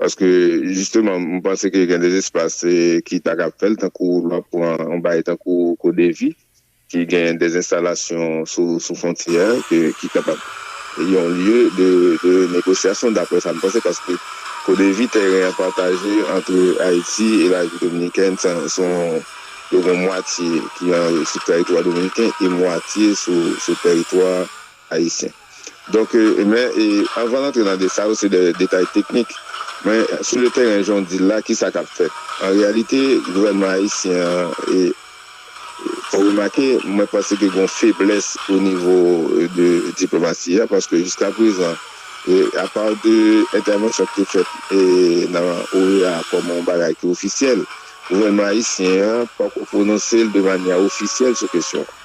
Paske jisteman m panse ke gen de espas ki ta kab fè l tankou lè w ap pran yon bagay tankou Kodevi ki gen de enstalasyon sou sou fontyè a ke ki kapab yon lye de de negosyasyon daprè sa m panse paske Kodevi tèren an pataje antre Ayiti e Rajwi Dominikèn se yon Yo gen mwatye ki sou tèritwa dominiken e mwatye sou tèritwa ayisyen. Donk, men, anvan n antre nan detay, sa yo se de detay teknik. Men, sou le tèren, jan w di l la, ki sa k ap fèt? An reyalite, gouvènman ayisyen an, fò w remake, mwen panse ke gen yon feblès onivo de diplomasi a, paske jiska prezan, apa de entèvansyon ki te fèt nan OEA kòm yon bagay ki ofisyèl, Gouvènman ayisyen an pako pwononse l de manyè ofisyèl sou kesyon an.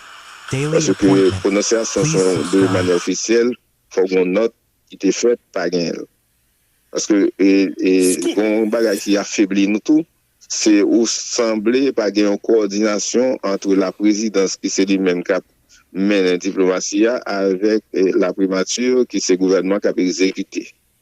Paske pwononsyasyon sou yon de manyè ofisyèl fò gen yon nòt ki te fèt, pa genyen l. Paske gen yon bagay ki afebli nou tou, se ou sanble pa gen yon kowòdinasyon antre laprezidans ki se li menm k ap mennen diplomasi a avèk laprimati ki se gouvènman k ap egzekite.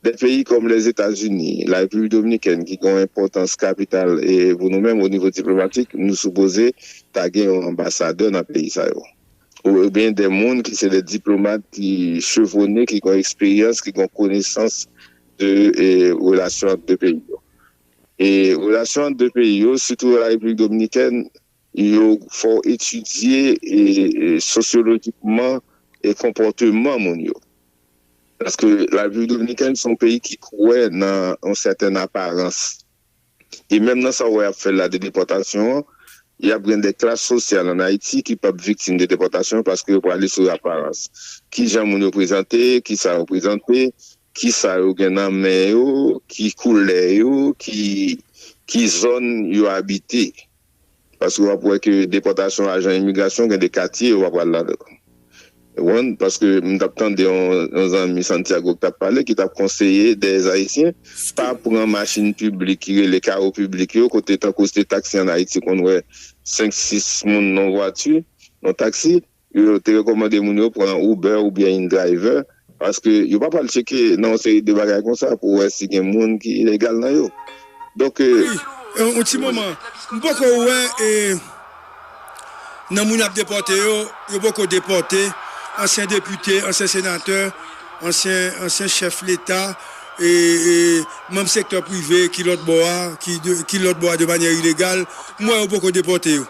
Dè peyi kòm Lèzetazini, La Repiblik Dominikèn ki gen yon enpòtans kapital pou nou menm onivo diplomatik, nou sipoze ta gen yon anbasadè nan peyi sa yo. Oubyen dè moun ki se dè diplomat ki chevwone, ki gen eksperyans, ki gen konesans de relasyon ant dè peyi yo. E relasyon ant dè peyi yo, sitou La Repiblik Dominikèn, Nou fè w etidye sosyolojikman konpòteman moun yo. Paske la Repiblik Dominikèn se yon peyi ki kwè nan yon sèten aparans. E menm nan sa w wè y ap fè la de depòtasyon an, y ap gen de klas sosyal ann Ayiti ki p ap viktim de depòtasyon paske yo prale sou aparans. Kijan moun yo prezante, kisa yo prezante, Kisa yo gen nan men yo, ki koulè yo, ki ki zòn yo abite. Paske w ap wè ke depòtasyon ajan imigrasyon gen de katye yo pa pral ladan l. Ou konprann? Paske m t ap tande yon yon zanmi Santiago ki t ap pale, ki t ap konseye dè Ayisyen pa pran machin piblik ki rele karo piblik yo kote tankou se te taksi an Ayiti konn wè 5, 6 moun nan yon vwati, nan yon taksi. Yo te rekòmande moun yo pran Uber oubyen InDriver paske yo pa pral tcheke nan yon seri de bagay konsa pou wè si gen moun ki ilegal nan yo. Donk. Wi, yon ti moman. M poko wè e nan moun yap depòte yo, yo poko depòte ansyen depite, ansyen senatè, ansyen ansyen chèf leta e e manm sektè prive ki lòtbò a, ki lòtbò a de manyè ilegal. M wè yo poko depòte yo.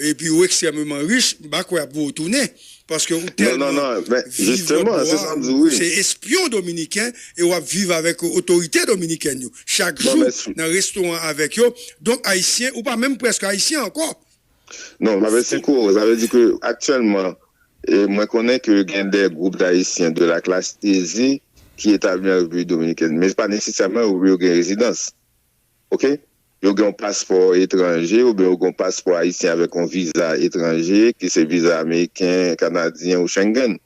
Epi ou ekstrèmeman rich, m pa kwè y ap voye w tounen, paske ou tèlman viv lòt bò a, ou se espyon dominiken e w ap viv avèk otorite dominikèn yo chak jou nan restoran avèk yo, donk ayisyen, ou pa menm prèske ayisyen ankò. Non, Maverick Coro, sa vle di ke aktyèlman mwen konnen ke gen de gwoup dayisyen de la klas eze ki etabli an Repiblik Dominikèn, men se pa nesesèman yo gen rezidans. ok yo gen yon paspò etranje oubyen yo gen yon paspò ayisyen avèk yon viza etranje ki se viza ameriken, kanadyen ou Schengen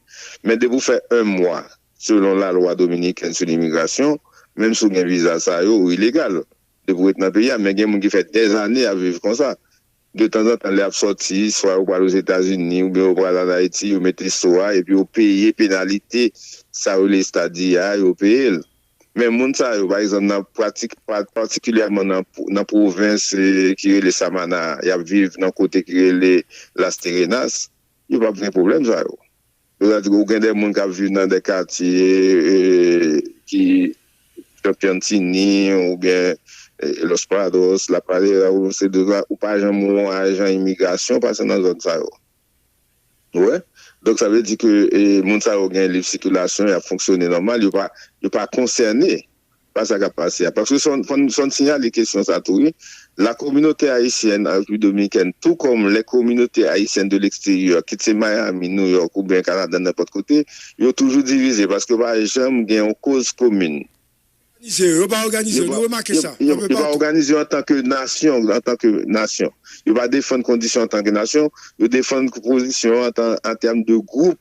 men depi ou fè 1 mwa selon lalwa dominikèn sou limigrasyon menm si ou gen viza sa yo ou ilegal depi ou ret nan peyi a men gen moun ki fè dèzane ap viv konsa De tanzantan lè y ap sòti, swa yo pral Ozetazini oubyen yo pral ann Ayiti, yo mete so a epi yo peye penalite sa yo rele estadya a, yo peye l. Men moun sa yo, pa egzanp nan pratik, patikilyèman nan pwovens ki rele Samana a, y ap viv nan kote ki rele Las Terenas, yo p ap gen pwoblèm sa yo. Donald ou gen de moun kap viv nan de katye ki nan piantini ou byen los prados la pradera ou se de la ou pa janm wè yon ajan imigrasyon pase nan zòn sa yo ou wè donk sa vle di ke moun sa yo gen lib sikilasyon yap fonksyone nòmal yo pa yo pa konsène. pa sa k ap pase a. Paske fò n fò n siyale kesyon sa tou wi, la communauté haïtienne en République dominicaine tout comme les communautés haïtiennes de l'extérieur kit se Miami, New York oubyen Canada nenpòt kote, yo toujou divize paske yo pa janm gen yon koz komin. Òganize yo, yo pa òganize yo, nou remake sa, anpe patou. Yo pa òganize yo antanke nasyon, antanke nasyon. Yo pa defann kondisyon antanke nasyon, yo defann pozisyon an tèm de gwoup.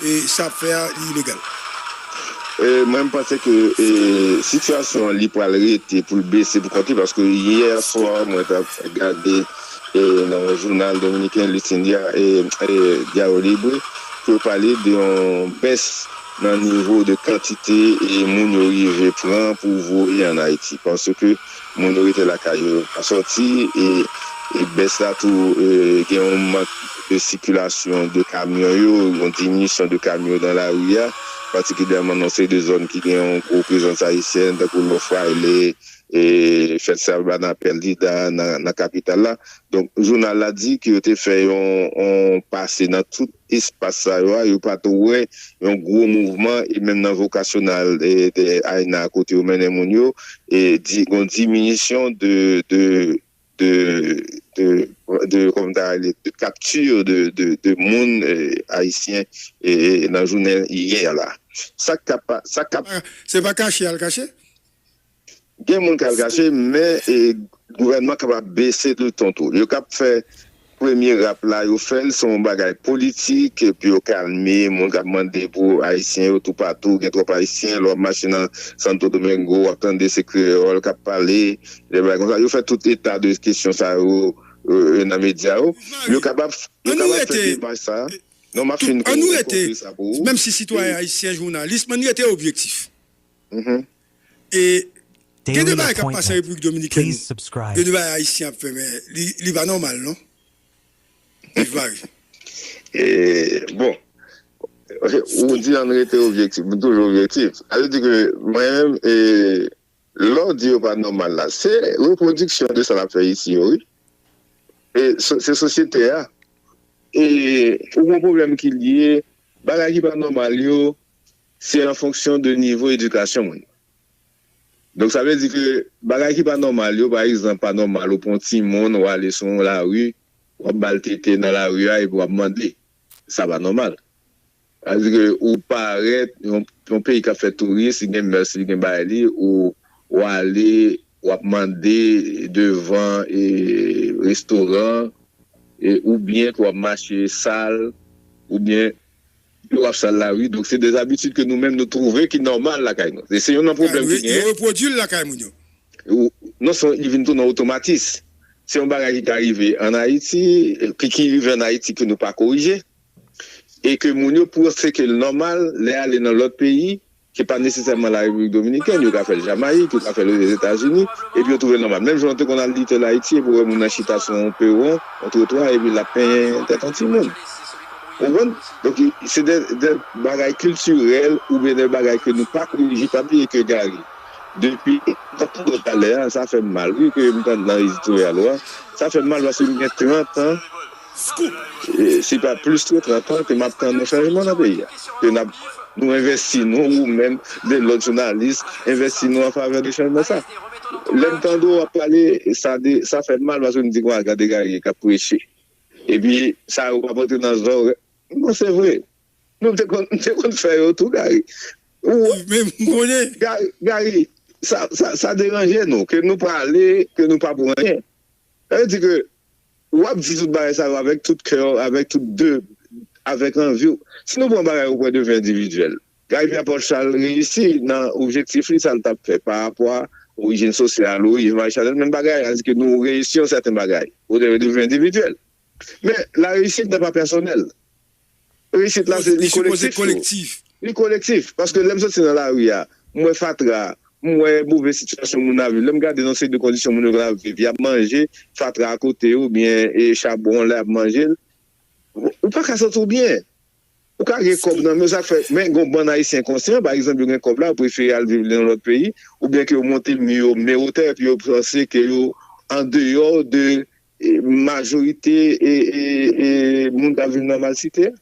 E sa ap fè a li ilegal. Mwen m panse ke sitiyasyon an li pral rete pou l bese pou kont li paske yè swa mwen t ap gade nan yon jounal dominiken Listin Diario Libre ke yo pale de yon bès nan nivo de kantite moun yo rive pran pou voye an Ayiti paske Moun yo rete lakay yo, yo pa sòti e bès la tou gen yon mank de sikilasyon de kamyon yo, yon diminisyon de kamyon yo nan lari a, patikilyèman nan seri de zòn ki gen yon gwo prezans ayisyèn tankou Lò Fraile, Fèt Salva nan Perdida nan kapital la. Donk jounal la di ke yo te fè yon pase nan tout. espas sa yo a, yo pa t wè yon gwo mouvman e menm nan vokasyonal AENA a kote yo mennen moun yo, gon diminisyon de kapti de moun ayisyen nan jounen yè la. Sa k ap. Se pa kache y al kache? Gen moun kal kache men gouvènman kapab bese tou ton tou. Yo kap fè premye rap la yo fèl se yon bagay politik pou yo kalme moun kap mande pou ayisyen yo toupatou gen twòp ayisyen lè wap mache nan Santo Domingo wap tande se kreyòl kap pale de bagay konsa yo fè tout eta de kesyon sa yo nan medya yo yo kapab fè demach sa non map fin konkli sa pou ou. Menmsi sitwayen ayisyen jounalis men rete objektif. Gen de bagay kap pase an repiblik dominikèn gen de bagay ayisyen ap fè men li pa nòmal non viv mari. Bon ou di ann rete objektif m toujou objektif sa vle di ke mwen menm lè w di yo pa nòmal la se repwodiksyon de sa n ap fè isi yo wi se sosyete a ou gen pwoblèm ki lye bagay ki pa nòmal yo Se an fonksyon de nivo edikasyon moun nan. Donk sa vle di ke bagay ki pa nòmal yo, pa egzanp pa nòmal ou pran yon timoun ou ale sou yon lari, w ap ba l tete nan lari a epi w ap mande. Sa pa nòmal. Sa vle di ke ou parèt yon peyi k ap fè touris, li gen mès li, gen bagay li, ou ale w ap mande devan restoran oubyen ke w ap mache sal oubyen. Yo wap sal la wi donk se de zabitid ke nou menm nou twouve ki nòmal lakay nou. Se youn nan pwoblèm ki genyen. Yo repwodui l lakay moun yo. Non sèlman li vin tou nan otomatis. Se yon bagay ki ka rive an Ayiti, ki rive an Ayiti ke nou pa korije e ke moun yo panse ke l nòmal lè ale nan lòt peyi. Se pa nesesèman la Repiblik Dominikèn, yo ka fè l Jamayik, yo ka fè l Ozetazini, epi yo twouve l nòmal. Menm jan ou te konn al Little Ayiti epi w wè moun an chita sou yon pewon, yon twotwa epi l ap penyen tèt yon timoun. Ou konprann? Donk, se de bagay kiltirèl oubyen de bagay ke nou pa korije. Pa bliye ke Gary, depi m t ap tande w talè a, sa fè m mal wi ke m tande nan editorial ou a. Sa fè m mal paske m gen 30 an. Scoop! Se pa plis ke 30 an ke map tann yon chanjman nan peyi a, ke nap nou envèsti nou, ou menm, de lòt jounalis, envèsti nou an favè de chanjman sa. Lèm tande w ap pale, sa de, sa fèm mal paske m di gon agad egare kap preche. Epi sa yo pap antre nan zòrèy m bon se vre. Nou m te konn, m te konn fè yo tou Gary. Ou menm m konnen. Gary, sa, sa deranje nou ke nou pale, ke nou pa pou anyen. Sa vle di ke. Ou ap di tout bagay sa yo avèk tout kè w, avèk tout de, avèk anvi w. Si nou pran bagay o pwen de vi endividyèl, Guy Pierre Paul Charles reyisi nan objektif li, sa l t ap fè pa rapò a orijin sosyal, orijin Marie Chanel, menm bagay la, dizke nou reyisi yon sèten bagay o pwen de vi endividyèl. Men, lareyisit nan pa pèsonèl. Reyisit la se li kolektif tou. Li kolektif. Paske lè m soti nan lari a, m wè fatra, m wè move sitiyasyon moun ap viv. Lè m gade yon seri de kondisyon moun yo gen ap viv, y ap manje fatra a kote yo oubyen chabon an lè y ap manje l. Ou pa ka santi w byen. Ou ka gen kòb nan men w sa k fè, men gen yon bann Ayisyen konsyan, pa egzanp yo gen kòb la, yo prefere al viv nan yon lòt peyi oubyen ke yo monte mi yo, men wotè epi yo panse ke yo andeyò de Majorite moun k ap viv nan malsite.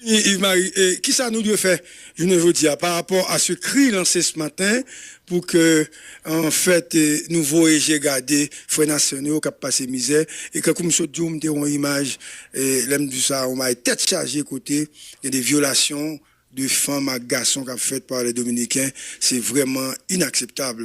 Yves Marie, kisa nou dwe fè jounen jodi a pa rapò a se kri lanse s maten pou ke an fèt nou voye je gade frè nasyon nou yo k ap pase mizè e kankou m sot di w m te wè yon imaj lè m di w sa yon bagay tèt chaje kote gen de vyolasyon de fanm ak gason k ap fèt pa lè dominiken se vrèman inakseptab.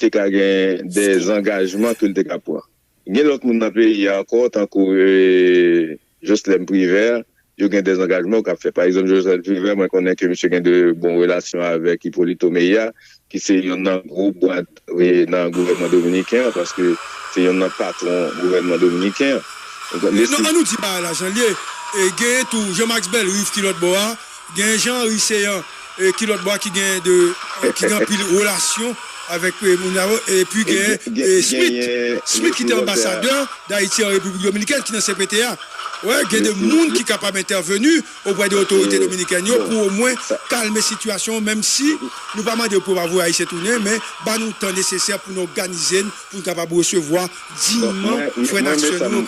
Te ka gen de zangajman ke l te ka pran. Gen lòt moun nan peyi a ankò tankou Joslèm Privè, yo gen de zangajman yo ka fè. Pa egzanp Joslèm Privè, mwen konnen ke misye gen de bon relasyon avèk Ipolito Meya ki se yonn nan gwo bwa nan gouvènman dominiken an paske se yonn nan patwon gouvènman dominiken an. An nou di bagay la jan l ye. Genyen tou Jean Max Bellerive ki lòt bò a, Gen Jean Henry Céant ki lòt bò a ki gen de ki gen anpil relasyon avèk moun sa yo epi gen Smith Smith ki te anbasadè Dayiti an Repiblik Dominikèn ki nan cpt a wè gen de moun ki kapab entèveni oprè de otorite dominikèn yo pou omwen kalme sitiyasyon an menm si nou pa mande pou yo pa voye ayisyen tounen men ba nou tan nesesè pou nou òganize n pou n kapab resevwa Bon mwen mwen men sam men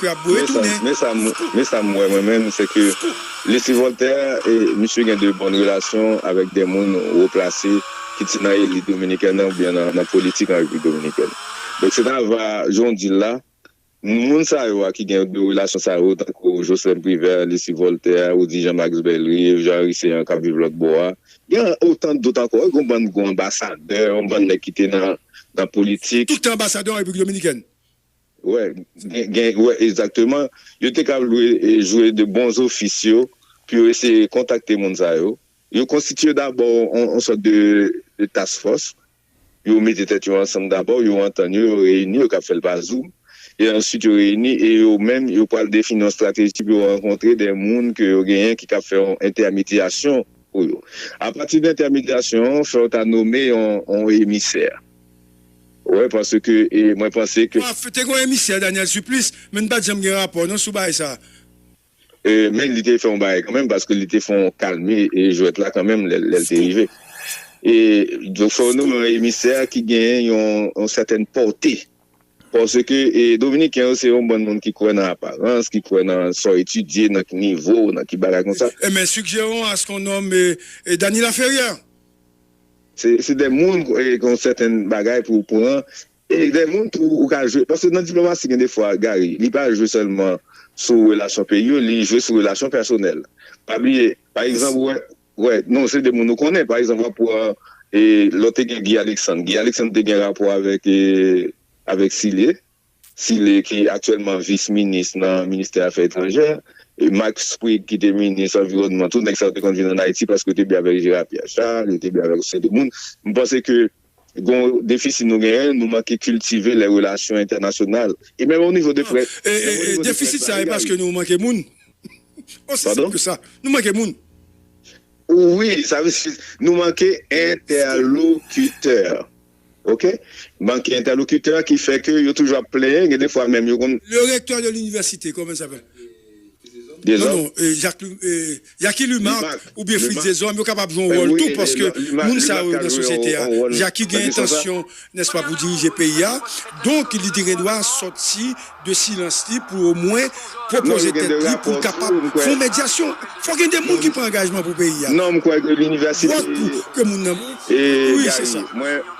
sam men sam men sam wè mwen menm se ke Lesly Voltaire e misye gen de bòn relasyon avèk de moun wo plase ki ti nan elit dominikèn nan oubyen nan politik an Repiblik Dominikèn. Donk se ta va jan w di l la moun sa yo a ki gen de relasyon sa yo tankou Jocelin Privert, Lesly Voltaire, Roudy Jean Max Bellerive, Jean Henry Céant k ap viv lòt bò a Gen otan dot ankò wi, gen yon bann gwo anbasadè, yon bann nèg ki te nan politik. Tout te anbasadè an Repiblik Dominikèn. Wè, gen, wè, egzakteman. Yo te kab lwe jwe de bons ofis yo pou yo eseye kontakte moun sa yo. Yo konstitiye dabò yon sòt de task force Yo mete tèt yo ansanm dabò, yo antann yo, yo reyini, yo kab fè l pa zoum, e answit yo reyini e yo menm yo pral defini yon estrateji pou yo rankontre de moun ke yo genyen ki kab fè yon entèmidyasyon pou yo. Apati de entèmidyasyon an, fè w ta nome yon emisè. Ou wè, paske e mwen panse ke. Te gen yon emisè, Daniel Supplice, men n pa t janm gen rapò non sou bagay sa a. Men li te fè yon bagay kanmenm paske li te fè yon kalme jwèt la kanmenm lè l te rive. E donk fò nou yon emisè ki genyen yon sètèn pòte. Paske dominiken yo se yon bann moun ki kwè nan aparans, ki kwè nan sa w etidye, nan ki nivo w, nan ki bagay konsa. Men sigjèron astwonòm Dany Laferrière. Se de moun ki yon sètèn bagay pou w pran E gen moun tou ou ka jwe, paske nan diplomasi gen de fwa Gary, li pa jwe sèlman sou relasyon peyi yo, li jwe sou relasyon pèsonèl. Pa bliye, pa egzanp ou wè, wè, non se de moun ou konnen, pa egzanp w ap pran, e lò te gen Guy Alexandre, Guy Alexandre te gen rapò avèk, avèk Sile, Sile ki aktyèlman vis minis nan ministè afè etranjè, e Max Pryd ki te minis anviwònman tou, nèg sa yo te konn vin ann Ayiti paske yo te byen avèk Gérard Pierre Charles, yo te byen avèk yon seri de moun. M panse ke. Gen yon defisi nou genyen, nou manke kiltive lè relasyon entènasyonal. E menm o nivo de près. E defisit sa e paske nou manke moun? Osi senp ke sa. Nou manke moun. Wi, sa vle di nou manke entèlokitè. Ok. Manke entèlokitè ki fè ke yo toujou ap plenyen, gen defwa menm yo konn. Le recteur de l'université, comment il s'appelle? Non non Jacky Lumarc oubyen Fritz Deshommes yo kapab jwe yon wòl tou paske moun sa yo nan sosyete a Jacky gen entansyon nèspa pou dirije peyi a donk li te gen dwa sòti de silans li pou omwen pwopoze tèt li pou l kapab fè yon medyasyon fò gen de moun ki pran angajman pou peyi a vòt pou ke moun nan wi se sa.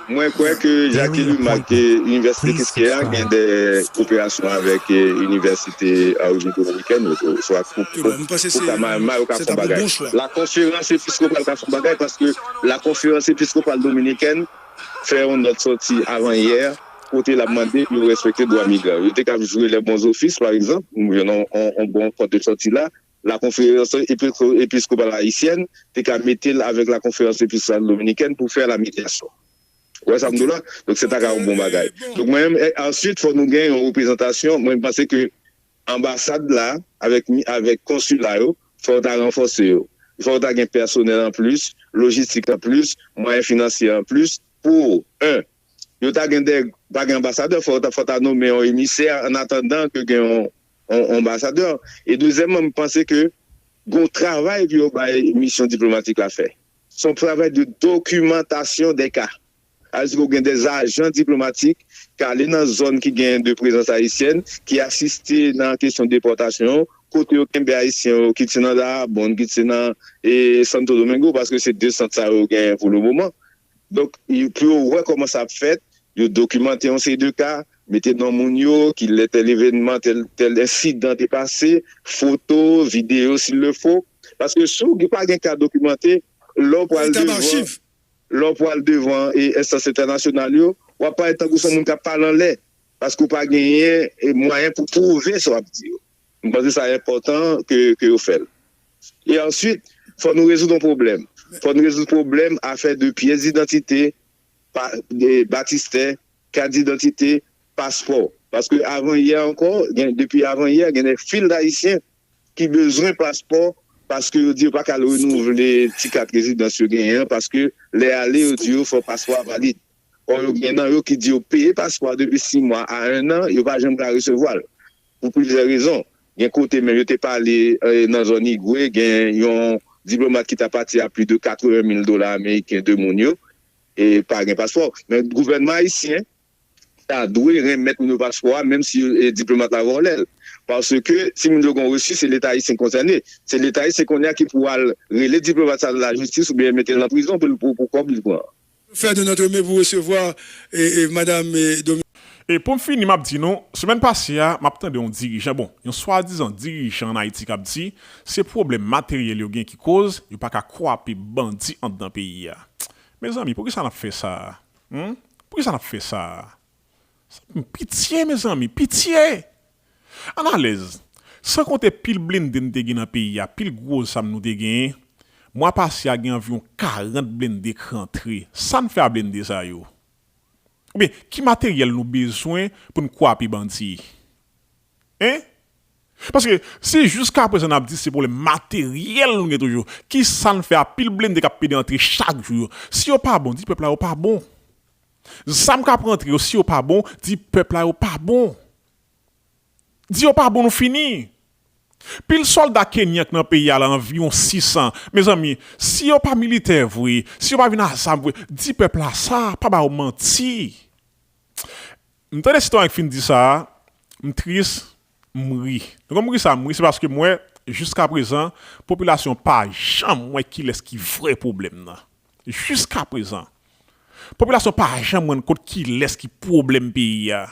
Mwen kwè ke Jacqueline make Inivèsite Kiskeya gen de koperasyon avèk Inivèsite Orijin Dominikèn yo tou oswa Pucamaima yo ka fon bagay. La Konferans Episkopal ka fon bagay paske La Konferans Episkopal Dominikèn fè yon nòt sòti avan yè kote l ap mande pou yo respekte dwa migran yo. Yo te kab jwe lè bon zofis pa egzanp, yon bon pòt de sòti la. La Conférence Episcopale Haïtienne te ka mete l avèk La Conférence Episcopale Dominicaine pou fè la mediation. Ou wè sa m di w la? Donk se ta ka yon bon bagay. Donk mwen menm, answit fò nou gen yon reprezantasyon, mwen panse ke anbasad la avèk konsila yo fò yo ta ranfòse yo. Fò yo ta gen pèsonèl an plis, lojistik an plis, mwayen finansye an plis pou 1. Yo ta gen de, pa gen anbasadè, fò ta nome yon emisè annatandan ke gen yon. Anbasadè, e dezyèmman m panse ke gon travay pou yo bay misyon diplomatik la fè. Son travay de dokimantasyon dè ka. Sa vle di ke ou gen dè ajan diplomatik ki ale nan zòn ki gen de prezans ayisyèn, ki asiste nan kesyon depòtasyon, kote yo kenbe ayisyen yo kit se nan Daraboond, kit se nan Santo Domingo, paske se de sant sa yo genyen pou le moman. Donk, pou yo wè kòman sa ap fèt, yo dokimante yon seri de ka, mete non moun yo, ki lè tèl evènman, tèl, tèl ensidan te pase, foto, videyo s'il le faut. Paske si w pa gen ka dokimante, lè w pral devan, lè w pral devan enstans entènasyonal yo, w ap parèt tankou s on moun k ap pale anlè, paske w pa genyen mwayen pou pwouve sa w ap di yo. M panse sa enpòtan ke yo fè l. E answit, fò nou rezoud yon pwoblèm. Fò nou rezoud pwoblèm afè de pyès didantite, batistè, kat didantite, paspò. Paske avan yè ankò, depi avan yè, gen de fil dayisyen ki bezwen paspò paske yo di yo pa ka al renouvle ti kat rezidans yo genyen an paske lè ale yo di yo fò paspò a valid. Or yo gen nan yo ki di yo peye paspò depi 6 mwa a 1 an, yo pa janm ka resevwa l. Pou plizyè rezon. Gen kote menm yo te pale nan zòn Higüey gen yon diplomat ki ta pati a pli de 80 mil dola ameriken de moun yo e pa gen paspò. Men gouvènman ayisyen ta dwe renmèt moun yo paspò a menm si diplomat la vòlè l. Paske si moun yo gen yon refi se leta ayisyen ki konsène. Se leta ayisyen kounye a ki pou al rele diplomat sa nan lajistis oubyen mete l nan prizon pou kòb li pran an. Fè don nan Treme pou resevwa madam Dominique. E poum fini map di nou, semèn pase a map tande yon dirijan bon yon swadizan dirijan an Ayiti kap di se pwoblèm materyèl yo gen ki koz yo paka kwape bandi andan peyi a. Mezanmi poukisa nap fè sa a? Humm poukisa nap fè sa a? Pitye mezanmi! Pitye! Ann alèz! San konte pil blende n te gen nan peyi a, pil gwo zam nou te genyen, mwa pase a gen anviwon 40 blende k rantre. Sa n fè a blende sa yo? Oubyen ki materyèl nou bezwen pou n kwape bandi? Hein? Paske si jiskaprezan n ap di se pwoblèm materyèl nou gen toujou, ki sa n fè a pil blende k ap pede antre chak jou yo? Si yo pa bon, di pèp la yo pa bon. Zam kap rantre yo si yo pa bon di pèp la yo pa bon di yo pa bon nou fini pil solda kenyan k nan peyi a la anviwon 600 mezanmi si yo pa militè vre si yo pa vin a zam vre di pèp la sa pa ba yo manti m tande sitwayen k fin di sa m tris M ri. Nou konn m ri sa m ri se paske m wè jiskaprezan popilasyon pa janm wè kilès ki vrè pwoblèm nan. Jiskaprezan. Popilasyon pa janm rann kont kilès ki pwoblèm peyi a.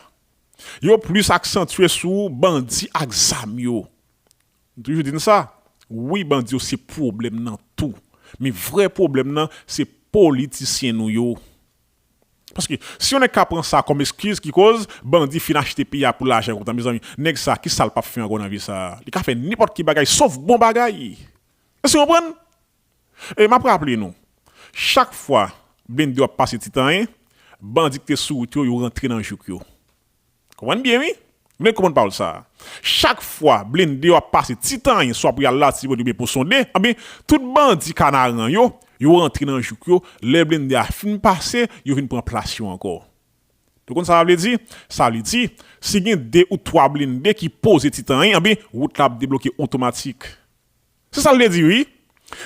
Yo plis aksantye sou bandi ak zam yo. M toujou di n sa. Wi bandi yo se pwoblèm nan tou. Men vrè pwoblèm nan se politisyen nou yo. Paske si yon nèg ka pran sa kòm eskiz ki koz bandi fin achte peyi a pou lajan kontan mezanmi nèg sa ki sal pap fè ankò nan vi sa li ka fè nenpòt ki bagay sof bon bagay èske nou konprann e map raple nou chak fwa blende yo ap pase ti tanyen bandi ki te sou wout yo yo rantre nan jouk yo. Konprann byen wi. Men konprann pawòl sa a. Chak fwa blende yo ap pase ti tanyen swa pou y al Latibonit oubyen Ponsonde, anben, tout bandi Kanaran yo, yo rantre nan jouk yo, lè blende a fin pase, yo vin pran plas yo ankò. Nou konn sa sa vle di? Sa vle di, si gen de ou twa blende ki poze ti tanyen, anben, wout la ap debloke otomatik. Se sa l te di wi.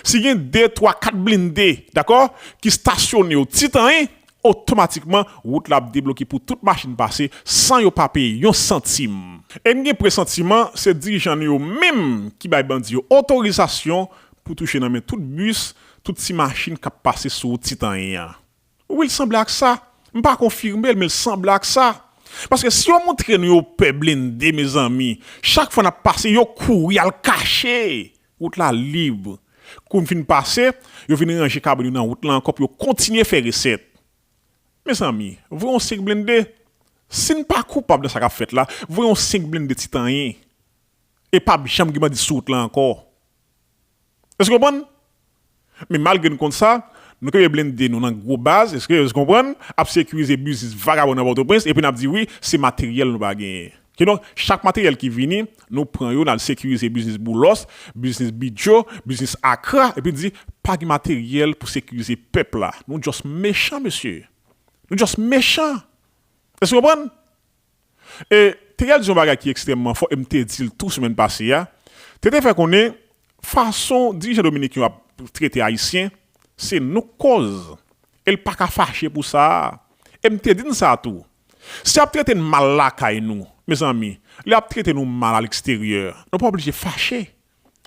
Si gen 2, 3, 4 blinde, dakò, ki stasyone yo ti tan 1, otomatikman wout la ap debloke pou tout machin pase san yo pa peye yon santim. E m gen presantiman se dirijan nou yo menm ki bay bandi yo otorizasyon pou touche nan men tout bis, tout ti machin k ap pase sou wout ti tan 1 an. Wi l sanble ak sa, m pa konfime l men l sanble ak sa. Paske si yo moutre nou yo pè blende mezanmi chak fwa nap pase yo kouri al kache wout la lib kou n fin pase yo vin ranje kabann yo nan wout la ankò pou yo kontinye fè resèt mezanmi voye on 5 blende si n pa koupab nan sa kap fèt la voye on 5 blende ti tanyen e pap janm gen bandi sou wout la ankò. Èske w konprann? Men malgre n konn sa, nou kenbe blende nou nan gwo baz, èske w konprann, ap sekirize biznis vagabon nan Pòtoprens epi n ap di wi, se materyèl nou pa genyen. Kidonk, chak materyèl ki vini, nou pran yo, n al sekirize biznis Boulòs, biznis Bidjo, biznis Akra epi n di, pa gen materyèl pou sekirize pèp la. Nou just mechan mesye! Nou just mechan! Èske w konprann? E, Teyat di yon bagay ki ekstrèmman fò e m te di l tou semèn pase a, Tete fè konnen fason dirijan dominiken yo ap trete Ayisyen, se nou k kòz e l pa ka fache pou sa a. E m te di n sa tou, Si y ap trete n mal lakay nou, mezanmi, lè y ap trete nou mal aleksteryè, nou pa oblije fache.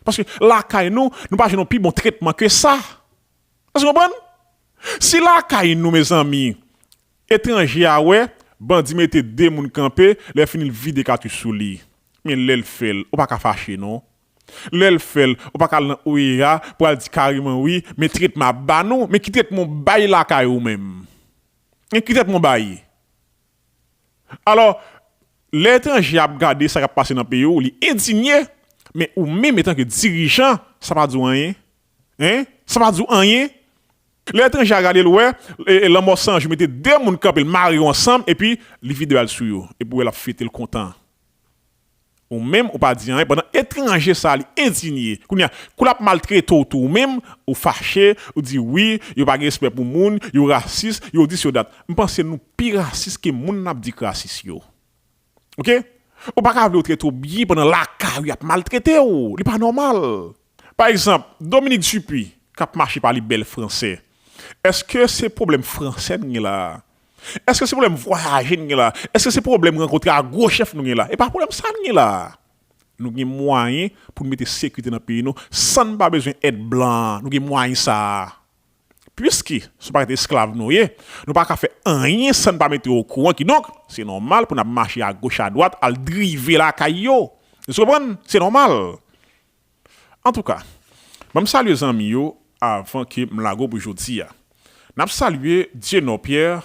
Paske lakay nou, nou pa jwenn yon pi bon tretman ke sa. Èske w konprann? Si lakay nou mezanmi, etranje a wè, bandi mete 2 moun kanpe, lè fini l vide katouch sou li. Men lè l fè l, ou pa ka fache non. Lè l fè l, ou pa ka al nan OEA pou al di kareman wi, men tretman ap ba nou, men ki tretman w bay lakay ou menm? Men ki tretman w bay? Alò, lè etranje a ap gade sa k ap pase nan peyi w, li endinye, men ou menm etanke dirijan, sa pa di w anyen? Hein? Sa pa di w anyen? Lè etranje a gade l wè lanmò san jou mete 2 moun kanpe l mare yo ansanm epi li vide bra l sou yo epi w wè l ap fete l kontan ou menm ou pa di anyen pandan etranje sa li endinye kounye a kou l ap maltrete w tou ou menm ou fache ou di wi yo pa gen respè pou moun yo rasis yo di si yo dat m panse nou pi rasis ke moun n ap di k rasis yo. Ok ou pa ka vle ou trete ou byen pandan lakay ou yap maltrete ou li pa nòmal pa egzanp Dominique Dupuy kap mache pale bèl fransè èske se pwoblèm fransè n gen la èske se pwoblèm vwayaje n gen la èske se pwoblèm rankontre ak gwo chèf nou gen la e pa pwoblèm sa n gen la nou gen mwayen pou n mete sekirite nan peyi nou san n pa bezwen èd blan nou gen mwayen sa. Piske se pa t esklav nou ye, nou pa ka fè anyen san n pa mete yo okouran, kidonk, se nòmal pou n ap mache agoch adwat al drive lakay yo. Nou konprann? Se nòmal. Antouka, ban m salye zanmi yo avan ke m lago pou jodi a. N ap salye Dieunord Pierre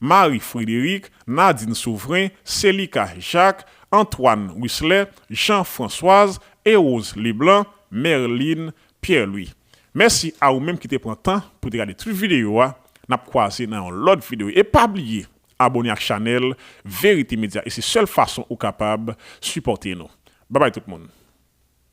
Marie Frédérique, Nadine Souverain, Célica Jacques, Antoine Wisler, Jean Françoise, Erose Leblanc, Merline Pierre Louis. Mèsi a ou menm ki te pran tan pou te gade tout videyo a, nap kwaze nan yon lòt videyo e pa bliye abone ak chanèl Verite Media e se sèl fason ou kapab sipòte nou. Babay tout moun.